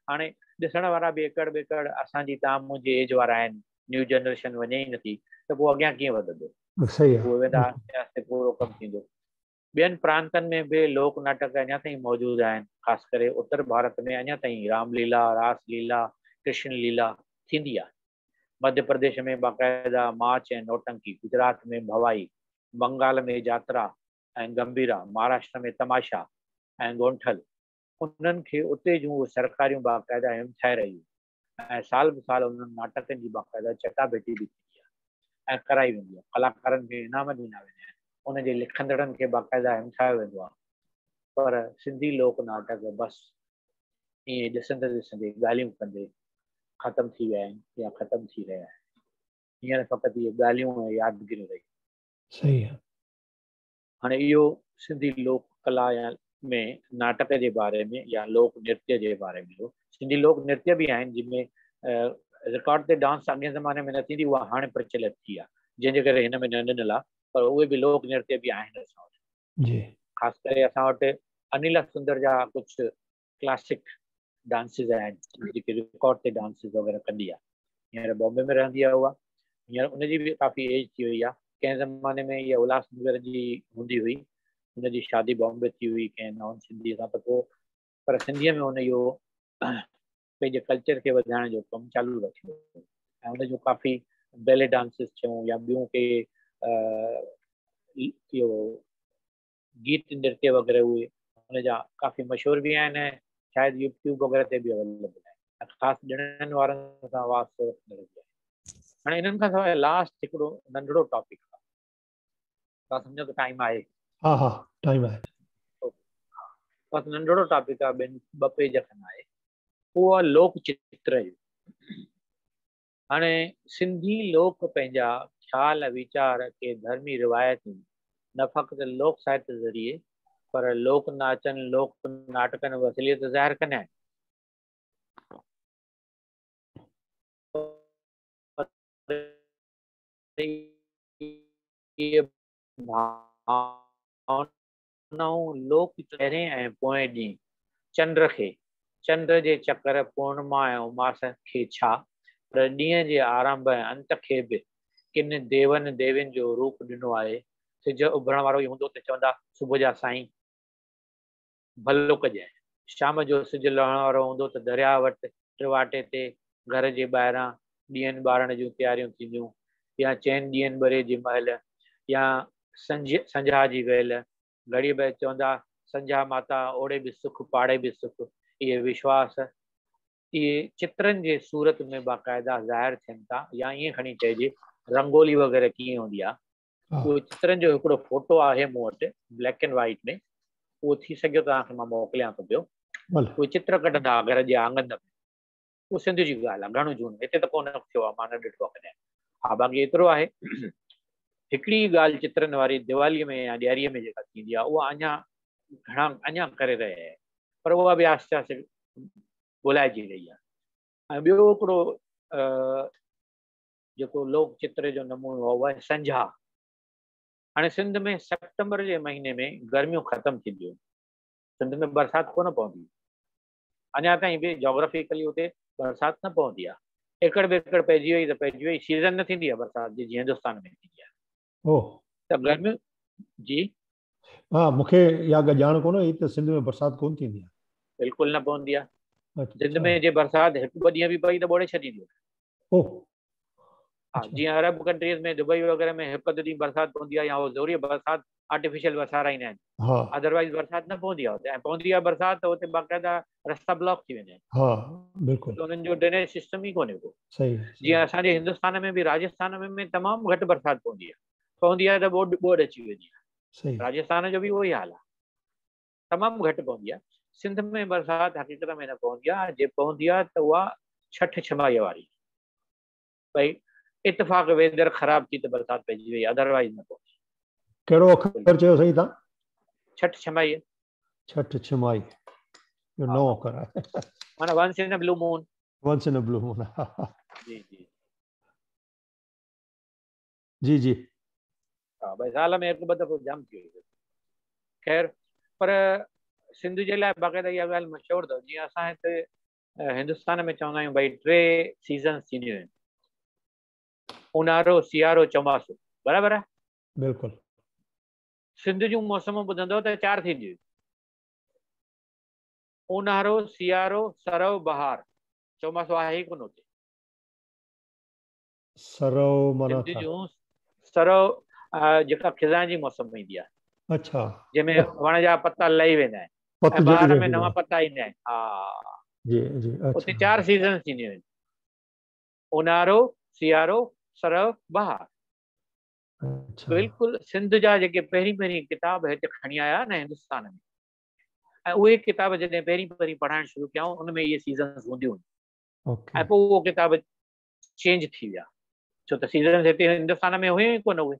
هاڻي ڏسڻ وارا به ايڪڙ ٻيڪڙ اسان جي توهان منهنجي ايج وارا آهن، نيو جنريشن وڃي ئي نٿي ته پوء اڳيان ڪيئن وڌندو؟ اهي ويندا آهستي آهستي پورو ڪم ٿيندو. ٻين پرانتن ۾ به لوڪ ناٽڪ اڃا تائين موجود آهن، خاص ڪري اتر ڀارت ۾ اڃا تائين رام ليلا، راس ليلا، ڪرشن ليلا ٿيندي آهي. مڌيه پرديش ۾ باقاعده ماچ ۽ نوٽنڪي، گجرات ۾ ڀوائي، بنگال ۾ جاترا، ۽ گمڀيرا، مهاراشٽر ۾ تماشا ۽ گونٺل، انهن کي اتي جون اهي سرڪاريون باقاعده همٿائي رهيون ۽ سال به سال انهن ناٽڪن جي باقاعده چٽاڀيٽي به ٿيندي آهي ۽ ڪرائي ويندي آهي. ڪلاڪارن کي انعام ڏنا ويندا آهن. ان جي لکندڙن کي باقاعده همٿايو ويندو آهي. پر سنڌي لوڪ ناٽڪ بس ائين ڏسندي ڏسندي، ڳالهيون ڪندي ختم ٿي ويا آهن يا ختم ٿي رهيا آهن. هينئر فقط اهي ڳالهيون ۽ يادگيريون رهيون آهن. صحيح آهي. هاڻي اهو سنڌي لوڪ ڪلا يا ۾ ناٽڪ جي باري ۾ يا لوڪ نرتيه جي باري ۾ هو. سنڌي لوڪ نرتيه به آهن جن ۾ رڪارڊ تي ڊانس اڳين زماني ۾ نه ٿيندي هئي اها هاڻي پرچلت ٿي آهي جنهن جي ڪري هن ۾ نه ڏنل آهي پر اهي به لوڪ نرتيه به آهن اسان وٽ جي خاص ڪري اسان وٽ انيلا سندر جا ڪجهه ڪلاسڪ ڊانسز آهن جيڪي رڪارڊ تي ڊانسز وغيره ڪندي آهي هينئر بامبي ۾ رهندي آهي اها هينئر ان جي به ڪافي ايج ٿي وئي آهي ڪنهن زماني ۾ اها الهاس نگر جي هوندي هئي ان جي شادي بامبي ٿي هئي ڪنهن نان سنڌي سان ته پوء پر سنڌيء ۾ هن اهو پنهنجي ڪلچر کي وڌائڻ جو ڪم چالو رکيو ۽ ان جون ڪافي بيلي ڊانسز ٿيون يا ٻيون ڪي اهو گيت نرتيه وغيره اهي هن جا ڪافي مشهور به آهن ۽ شايد يوٽيوب وغيره تي به اويليبل آهن ۽ خاص ڏڻن وارن سان واسطو رکندڙ به آهن هاڻي انهن کان سواء لاسٽ هڪڙو ننڍڙو ٽاپڪ آهي تون سمجهو ته ٽائيم آهي ها ها ٽائيم آهي بس ننڍڙو ٽاپڪ آهي ٻن ٻه پيج کن آهي هو آهي لوڪ چتر جو هاڻي سنڌي لوڪ پنهنجا خيال ويچار کي ڌرمي روايتن نه فقط لوڪ ساهت ذريعي پر لوڪ ناچن، لوڪ ناٽڪن وسيلي ته ظاهر ڪندا آهن. پر اهي ڀاونا نئون لوڪ چهرين ۽ پوئين ڏينهن چنڊ کي، چنڊ جي چڪر، پورنما ۽ اماس کي ڇا پر ڏينهن جي آرنڀ ۽ انت کي به ڪن ديون ديوين جو روپ ڏنو آهي. سج اڀرڻ وارو ئي هوندو ته چوندا صبح جا سائين ڀلو ڪجانء. شام جو سج لهڻ وارو هوندو ته درياهه وٽ ٽواٽي تي گهر جي ٻاهران ڏيئن ٻارڻ جون تياريون ٿينديون يا چئن ڏيئن ٻري جي مهل يا سنجهه سنجها جي ويل گهڙيء به چوندا سنجها ماتا اوڙي به سک پاڙي به سک اهي وشواس اهي چترن جي صورت ۾ باقاعده ظاهر ٿين ٿا يا ائين کڻي چئجي رنگولي وغيره ڪيئن هوندي آهي اهو چترن جو هڪڙو فوٽو آهي مون وٽ بليڪ اينڊ وائٽ ۾ اهو ٿي سگهيو ته توهان کي مان موڪليان ٿو پيو اهو چتر ڪڍندا گهر جي آنگن ۾ اهو سنڌ جي ڳالهه آهي گهڻو جون هتي ته ڪو نه ٿيو آهي مان نه ڏٺو آهي ڪڏهن ها باقي ايترو آهي هڪڙي ڳالهه چترن واري ديوالي ۾ يا ڏياري ۾ جيڪا ٿيندي آهي اها اڃا گهڻا اڃا ڪري رهي آهي پر اها به آهستي آهستي ڳولهائجي رهي آهي ۽ ٻيو هڪڙو جيڪو لوڪ چتر جو نمونو هو اهي سنجها. هاڻي سنڌ ۾ سيپٽمبر جي مهيني ۾ گرميون ختم ٿينديون. سنڌ ۾ برسات ڪونه پوندي. اڃا تائين به جاگرافيڪلي اتي برسات نه پوندي آهي. ايڪڙ ٻيڪڙ پئجي وئي ته پئجي وئي. سيزن نه ٿيندي آهي برسات جي جيئن هندستان ۾ ٿيندي آهي. اوهه. ته گرميون جي ها مون کي اها ڳالهه ڄاڻ ڪونه هئي ته سنڌ ۾ برسات ڪونه ٿيندي آهي. بلڪل نه پوندي آهي. سنڌ ۾ جي برسات هڪ ٻه ڏينهن به پئي ته ٻوڙي ڇڏيندي آهي. اوه. ها جيئن عرب ڪنٽريز ۾ دبئي وغيره ۾ هڪ اڌ ڏينهن برسات پوندي آهي يا هو زوريء برسات آرٽيفيشل وسارائيندا آهن. ها. اڌروائيز برسات نه پوندي آهي اتي ۽ پوندي آهي برسات ته اتي باقاعده رستا بلاڪ ٿي ويندا آهن. ها بلڪل. ته انهن جو ڊرينيج سسٽم ئي ڪونه ڪو. صحيح. جيئن اسان جي هندستان ۾ به راجسٿان ۾ تمام گهٽ برسات پوندي آهي. پوندي آهي ته ٻوڏ ٻوڏ اچي ويندي آهي صحيح راجستان جو به اهو ئي حال آهي تمام گهٽ پوندي آهي سنڌ ۾ برسات حقيقت ۾ نه پوندي آهي جي پوندي آهي ته اها ڇٺ ڇمائيء واري ڀئي اتفاق ويدر خراب ٿي ته برسات پئجي وئي ادروائز نه پوندي ڪهڙو اکر چيو سائين تان ڇٺ ڇمائيء ڇٺ ڇمائي جو نو اکر آهي معنی once in blue moon once in blue moon جي جي جي جي ها بھي سال ۾ هڪ ٻه دفعو جام ٿي وئي خير پر سنڌ جي لاء باقاعده اها ڳالهه مشهور اٿو جيئن اسان هتي هندستان ۾ چوندا آهيون بھي ٽي سيزنس ٿينديون آهن اونهارو سيارو چوماسو برابر آهي بلڪل سنڌ جون موسمون ٻڌندو ته چار ٿينديون آهن اونهارو سيارو سرو بهار چوماسو آهي ڪونه اتي سرو معنيٰ سنڌ ڇا؟ جون سرو جيڪا خزان جي موسم ۾ ايندي آهي. اڇا. جنهن ۾ وڻ جا پتا لهي ويندا آهن. پت ۽ جهڙي بهار ۾ رهندي نوان آهي. پتا ايندا آهن. ها. جي جي اڇا. اتي چار سيزنز ٿينديون آهن. اونهارو، سيارو، سرو، بهار. اڇا. بلڪل سنڌ جا جيڪي پهرين پهرين ڪتاب هت کڻي آيا نه هندستان ۾، ۽ اهي ڪتاب جڏهن پهرين پهرين پڙهائڻ شروع ڪيائون ان ۾ اهي سيزنز هونديون هيون. اوڪي. ۽ پوء اهو ڪتاب چينج ٿي ويا ڇو ته سيزنس هتي هندستان ۾ هيون ئي ڪونه اهي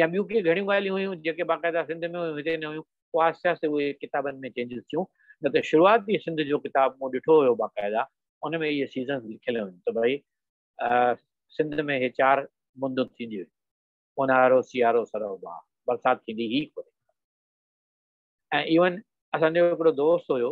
يا ٻيون ڪي گهڻيون ڳالهيون هيون جيڪي باقاعده سنڌ ۾ هيون هتي نه هيون پوء آهستي آهستي اهي ڪتابن ۾ چينجز ٿيون نه ته شروعاتي سنڌ جو ڪتاب مون ڏٺو هيو باقاعده ان ۾ اهي سيزنس لکيل هيون ته ڀائي سنڌ ۾ هي چار مندون ٿينديون اونهارو سيارو سرو باهه برسات ٿيندي هي ڪونه ۽ ايون اسان جو هڪڙو دوست هيو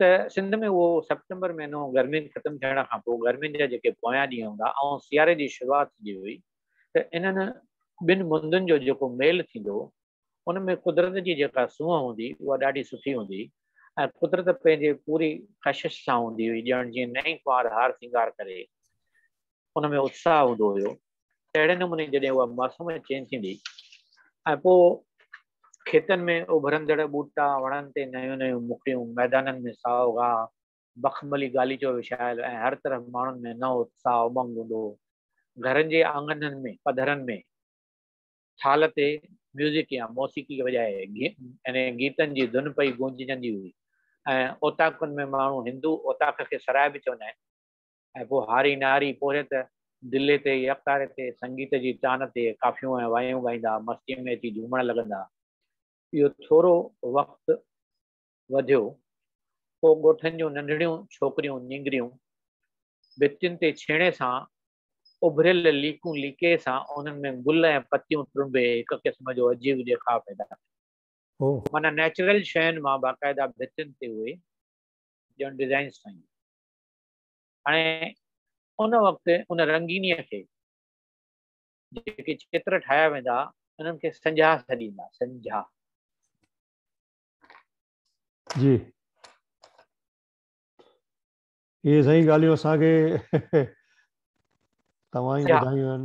ته سنڌ ۾ اهو سيپٽمبر مهينو گرمين ختم ٿيڻ کان پوء گرمين جا جيڪي پويان ڏينهن هوندا ۽ سياري جي شروعات ٿيندي هئي ته انهن ٻن مندن جو جيڪو ميل ٿيندو ان ۾ قدرت جي جيڪا سونهن هوندي اها ڏاڍي سٺي هوندي ۽ قدرت پنهنجي پوري ڪشش سان هوندي هئي ڄڻ جيئن نئين ڪنوار هار سينگار ڪري ان ۾ اتساهه هوندو هيو تهڙي نموني جڏهن اها موسم چينج ٿيندي ۽ پوء کيتن ۾ اڀرندڙ ٻوٽا، وڻن تي نيون نيون مکڙيون، ميدانن ۾ سائو گاهه، مخملي غاليچو وڇايل ۽ هر طرف ماڻهن ۾ نئون اتساهه امنگ هوندو هو. گهرن جي آڱنن ۾ پڌرن ۾ ٿالهه تي ميوزڪ يا موسيقي وڄائي يعني گيتن جي ڌن پئي گونججندي هئي ۽ اوطاقن ۾ ماڻهو هندو اوطاق کي سرائي به چوندا آهن، ۽ پوء هاري نهاري پورهيت دلي تي يا اڪتاري تي سنگيت جي تان تي ڪافيون ۽ وايون ڳائيندا مستيء ۾ اچي جهومڻ لڳندا. اهو ٿورو وقت وڌيو، پوء ڳوٺن جون ننڍڙيون ڇوڪريون نينگريون ڀتين تي ڇيڻي سان اڀريل ليڪون ليڪي سان انهن ۾ گل ۽ پتيون ٽرنبي هڪ قسم جو عجيب ڏيکاء پيدا ڪن. معنيٰ نيچرل شين مان باقاعده ڀتين تي اهي ڄڻ ڊزائنز ٺاهينديون. هاڻي ان وقت ان رنگينيء کي جيڪي چتر ٺاهيا ويندا انهن کي سنجها سڏيندا سنجها جي اهي سائين ڳالهيون اسان کي توهان ئي ٻڌايون آهن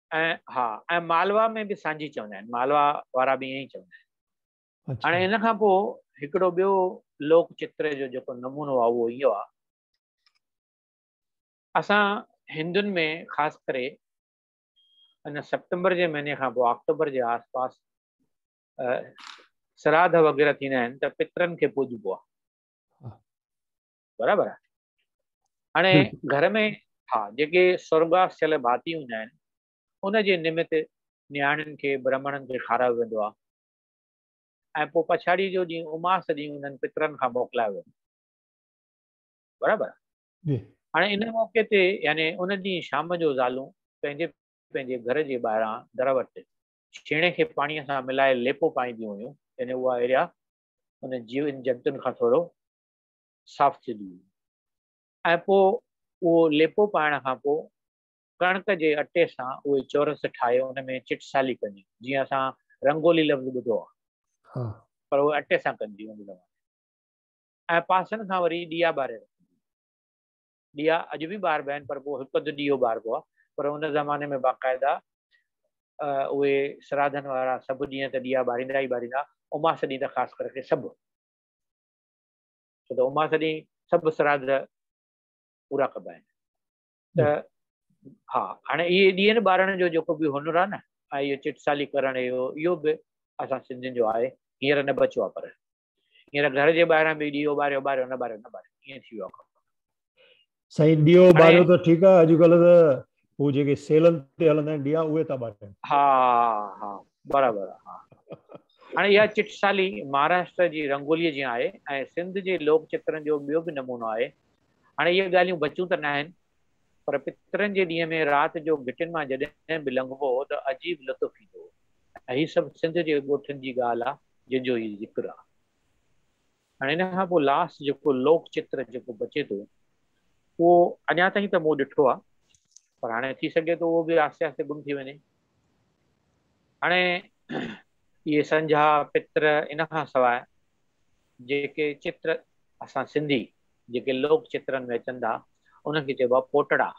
۽ ها ۽ مالوا ۾ به سانجهي چوندا آهن مالوا وارا به ائين ئي چوندا آهن هاڻي ان کان پوء هڪڙو ٻيو لوڪ چتر جو جيڪو نمونو آهي اهو اهو آهي اسان هندن ۾ خاص ڪري ان سپٽمبر جي مهيني کان پوء آڪٽوبر جي آس پاس سراڌ وغيره ٿيندا آهن ته پترن کي پوڄبو آهي برابر آهي هاڻي گهر ۾ ها جيڪي سرگواس ٿيل ڀاتي هوندا آهن ان جي نمت نياڻين کي برهمڻن کي کارايو ويندو آهي ۽ پوء پڇاڙي جو ڏينهن اماس ڏينهن انهن پترن کان موڪلايو ويندو برابر جي هاڻي ان موقعي تي يعني ان ڏينهن شام جو زالون پنهنجي پنهنجي گهر جي ٻاهران در وٽ ڇيڻي کي پاڻي سان ملائي ليپو پائينديون هيون يعني اها اهڙيا ان جيون جنتن کان ٿورو صاف ٿينديون آهن ۽ پوء اهو ليپو پائڻ کان پوء ڪڻڪ جي اٽي سان اهي چورس ٺاهي ان ۾ چٽسالي ڪجي جيئن اسان رنگولي لفظ ٻڌو آهي پر اهي اٽي سان ڪجي ان زماني ۽ پاسن کان وري ڏيئا ٻاري رکجي ڏيئا اڄ به ٻاربا آهن پر پوء هڪ اڌ ڏيئو ٻاربو آهي پر ان زماني ۾ باقاعده اهي سراڌن وارا سڀ ڏينهن ته ڏيئا ٻاريندا ئي ٻاريندا اماس ڏينهن ته خاص ڪري سڀ ڇو ته اماس ڏينهن سڀ سراڌ پورا ڪبا آهن ته ها هاڻي اهي ڏيئن ٻارڻ جو جيڪو به هنر آهي نه ۽ اهو چٽسالي ڪرڻ اهو اهو به اسان سنڌين جو آهي هينئر نه بچيو آهي پر هينئر گهر جي ٻاهران به ڏيئو ٻاريو ٻاريو نه ٻاريو نه ٻاريو ائين ٿي ويو آهي سائين ڏيئو ٻاريو ته ٺيڪ آهي اڄڪلهه ته هو جيڪي سيلن تي هلندا آهن ڏيئا اهي ٿا ٻارين ها ها برابر ها هاڻي اها چٽ سالي مهاراشٽر جي رنگولي جيان آهي ۽ سنڌ جي لوڪ چترن جو ٻيو به نمونو آهي هاڻي اهي ڳالهيون بچيون ته ناهن پر پترن جي ڏينهن ۾ رات جو گهٽين مان جڏهن به لنگهبو هو ته عجيب لطف ايندو هو ۽ هي سڀ سنڌ جي ڳوٺن جي ڳالهه آهي جنهن جو هي ذڪر آهي هاڻي ان کان پوء لاسٽ جيڪو لوڪ چتر جيڪو بچي ٿو اهو اڃا تائين ته مون ڏٺو آهي پر هاڻي ٿي سگهي ٿو اهو به آهستي آهستي گم ٿي وڃي هاڻي اهي سنجها پتر ان کان سواء جيڪي چتر اسان سنڌي جيڪي لوڪ چترن ۾ اچن ٿا انهن کي چئبو آهي پوٽڙا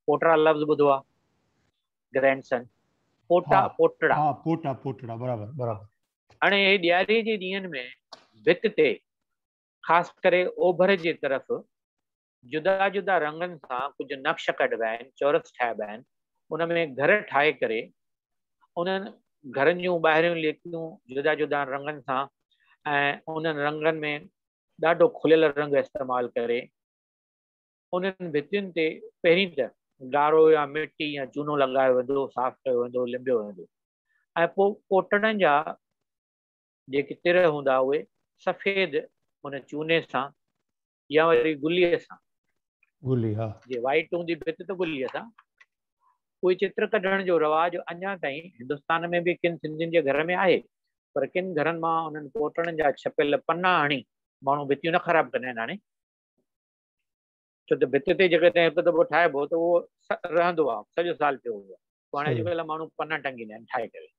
پوٽڙا لفظ ٻڌو آهي گرينڊ سن پوٽا پوٽڙا پوٽا پوٽڙا برابر برابر هاڻي ڏياري جي ڏينهن ۾ ڀت تي خاص ڪري اوڀر جي طرف جدا جدا رنگن سان ڪجهه نقش ڪڍبا آهن، چورس ٺاهبا آهن، ان ۾ گهر ٺاهي ڪري انهن گهرن جون ٻاهريون ليڪون جدا جدائن رنگن سان ۽ انهن رنگن ۾ ڏاڍو کليل رنگ استعمال ڪري، انهن ڀتين تي پهرين ته ڳاڙهو يا مٽي يا چونو لڳايو ويندو، صاف ڪيو ويندو، لنبيو ويندو ۽ پوء ڪوٽڙن جا جيڪي تر هوندا اهي سفيد ان چوني سان يا وري گلي سان، گلي ها، جي وائيٽ هوندي ڀت ته گلي سان، اهي چتر ڪڍڻ جو رواج اڃا تائين هندستان ۾ به ڪن سنڌين جي گهر ۾ آهي پر ڪن گهرن مان انهن ڪوٽڙن جا ڇپيل پنا هڻي ماڻهو ڀتيون نه خراب ڪندا آهن هاڻي. ڇو ته ڀت تي جيڪڏهن هڪ دٻو ٺاهبو ته اهو رهندو آهي سڄو سال پيو هوندو آهي پوء هاڻي اڄڪلهه ماڻهو پنا ٽنگيندا آهن ٺاهي ڪري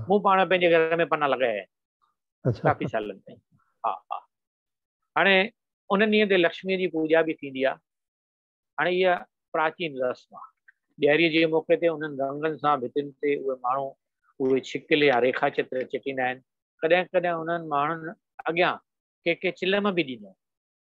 مون پاڻ پنهنجي گهر ۾ پنا لڳايا آهن ڪافي سالن تائين ها ها هاڻي ان ڏينهن تي لڪشمي جي پوڄا به ٿيندي آهي هاڻي اها پراچين رسم آهي ڏياري جي موقعي تي انهن رنگن سان ڀتين تي اهي ماڻهو اهي ڇڪل يا ريکا چتر چٽيندا آهن ڪڏهن ڪڏهن انهن ماڻهن اڳيان ڪي ڪي چلم به ڏيندا آهن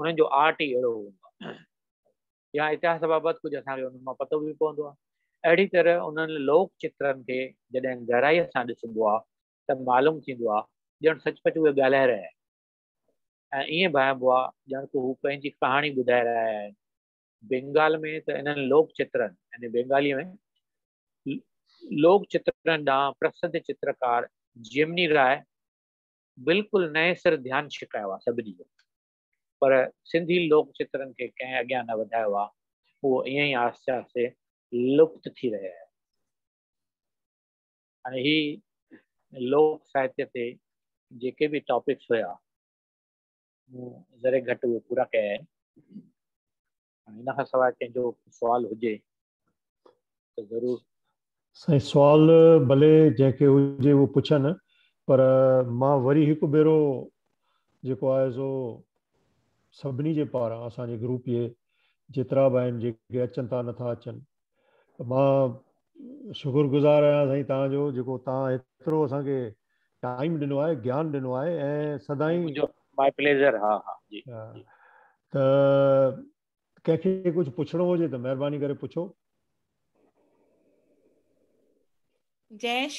انهن جو آرٽ ئي اهڙو هوندو آهي يا اتهاس بابت ڪجهه اسان کي انهن مان پتو به پوندو آهي اهڙي طرح انهن لوڪ چترن کي جڏهن گهرائي سان ڏسبو آهي ته معلوم ٿيندو آهي ڄڻ سچ پچ اهي ڳالهائي رهيا آهن ۽ ايئن ڀانئبو آهي ڄڻ ته هو پنهنجي ڪهاڻي ٻڌائي رهيا آهن بينگال ۾ ته انهن لوڪ چترن يعني بينگالي ۾ لوڪ چترن ڏانهن پرسڌ چترڪار جيمني راء بلڪل نئين سر ڌيان ڇڪايو آ سڀني جو پر سنڌي لوڪ چترن کي ڪنهن اڳيان نه وڌايو آ اهو ائين ئي آهستي آهستي لپت ٿي رهي آهي هاڻي هي لوڪ ساهتيه تي جيڪي به ٽاپڪس هيا مون ذري گهٽ اهي پورا ڪيا آهن ان کان سواء ڪنهن جو سوال هجي ته ضرور سائين سوال ڀلي جنهن کي هجي اهو پڇن پر مان وري هڪ ڀيرو جيڪو آهي سو سڀني جي پاران اسان جي گروپ جي جيترا به آهن جيڪي اچن ٿا نٿا اچن ته مان شڪر گذار آهيان سائين توهان جو جيڪو توهان هيترو اسان کي ٽائيم ڏنو آهي گيان ڏنو آهي ۽ سدائين ماي پليزر ها ها جي ته ڪنهن کي ڪجهه پڇڻو هجي ته مهرباني ڪري پڇو جيش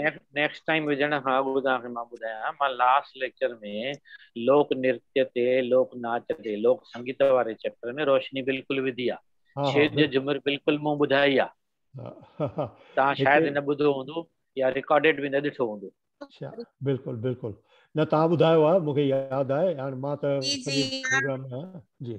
نيڪسٽ ٽائيم وجهڻ کان اڳ توهان کي مان ٻڌايان مان لاسٽ ليڪچر ۾ لوڪ نرتي تي لوڪ ناچ تي لوڪ سنگيت واري چيپٽر ۾ روشني بلڪل وڌي آ ڇيڄ جو جمر بلڪل مون ٻڌائي آ توهان شايد نه ٻڌو هوندو يا رڪارڊيڊ به نه ڏٺو هوندو اچھا بلڪل بلڪل نه توهان ٻڌايو آ مون کي ياد آهي هاڻ مان ته سڄي پروگرام ۾ جي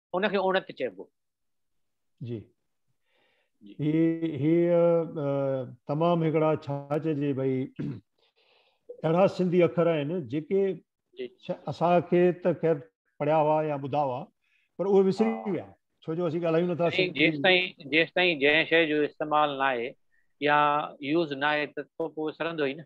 ان کي اوڻت چئبو. جي جي هي تمام هڪڙا ڇا چئجي ڀئي اهڙا سنڌي اکر آهن جيڪي اسان کي ته خير پڙهيا هئا يا ٻڌا هئا پر اهي وسري ويا ڇو جو اسين ڳالهايون نٿا سنڌي جيستائين جيستائين جنهن شيء جو استعمال ناهي يا يوز ناهي ته پوء وسرندو ئي نه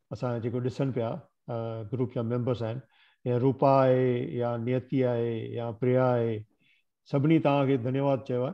اسان جيڪو ڏسن پيا گروپ جا ميمبرس آهن يا روپا آهي يا نيتي آهي يا پريا آهي سڀني توهان کي ڌنيواد چيو آهي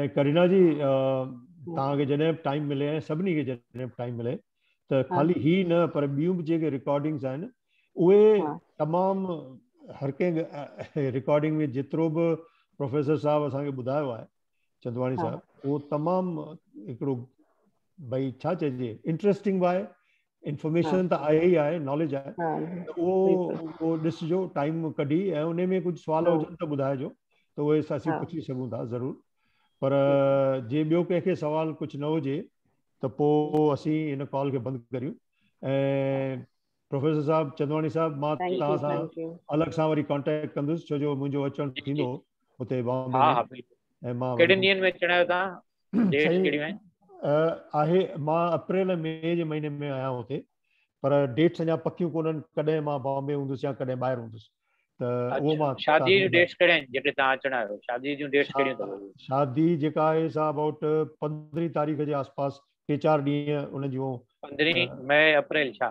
۽ ڪرينا جي تان کي جڏهن به ٽائيم ملي ۽ سڀني کي جڏهن به ٽائيم ملي ته خالي هي نه پر ٻيون به جيڪي رڪارڊنگز آهن اهي تمام هر ڪنهن رڪارڊنگ ۾ جيترو به پروفيسر صاحب اسان کي ٻڌايو آهي چندواڻي صاحب اهو تمام هڪڙو ڀئي ڇا چئجي انٽرسٽنگ به آهي انفارميشن ته آهي ئي آهي ناليج آهي ته اهو ڏسجو ٽائيم ڪڍي ۽ ان ۾ ڪجهه سوال هجن ته ٻڌائجو ته اهي اسين پڇي سگهون ٿا ضرور پر جي ٻيو ڪنهن کي سوال ڪجهه نه هجي ته پوء اسين هن ڪال کي بند ڪريون ۽ پروفيسر صاحب چندواڻي صاحب مان توهان سان الڳ سان وري ڪانٽيڪٽ ڪندس ڇو جو منهنجو اچڻ ٿيندو هتي بامبي ۾ ۽ مان ڪهڙي ڏينهن ۾ اچڻا آهيو توهان ڊيٽس ڪهڙيون آهن آهي مان اپريل مي جي مهيني ۾ آهيان هتي پر ڊيٽس اڃا پڪيون ڪونن ڪڏهن مان بامبي هوندس يا ڪڏهن ٻاهر هوندس شادي جون ڊيٽس ڪهڙا آهن جيڪي توهان اچڻ آيو شادي جون ڊيٽس ڪهڙيون اٿو شادي جيڪا آهي سا اباؤٽ 15 تاريخ جي آس پاس ٽي چار ڏينهن ان جون 15 مئي اپريل ڇا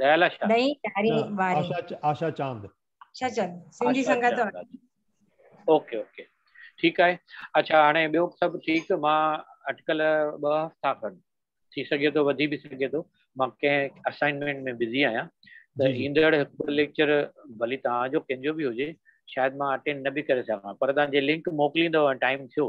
ڏهين ڏهاري واري. آشا چاند. آشا چند سنڌي سنگت واري. اوڪي اوڪي ٺيڪ آهي اچا هاڻي ٻيو سڀ ٺيڪ مان اٽڪل ٻه هفتا کن ٿي سگهي ٿو وڌي به سگهي ٿو مان ڪنهن اسائنمينٽ ۾ بزي آهيان ته ايندڙ هڪ ليڪچر ڀلي تهان جو ڪنهن جو به هجي شايد مان اٽينڊ نه به ڪري سگهان پر تهان جي لنڪ موڪليندو ٽائيم ٿيو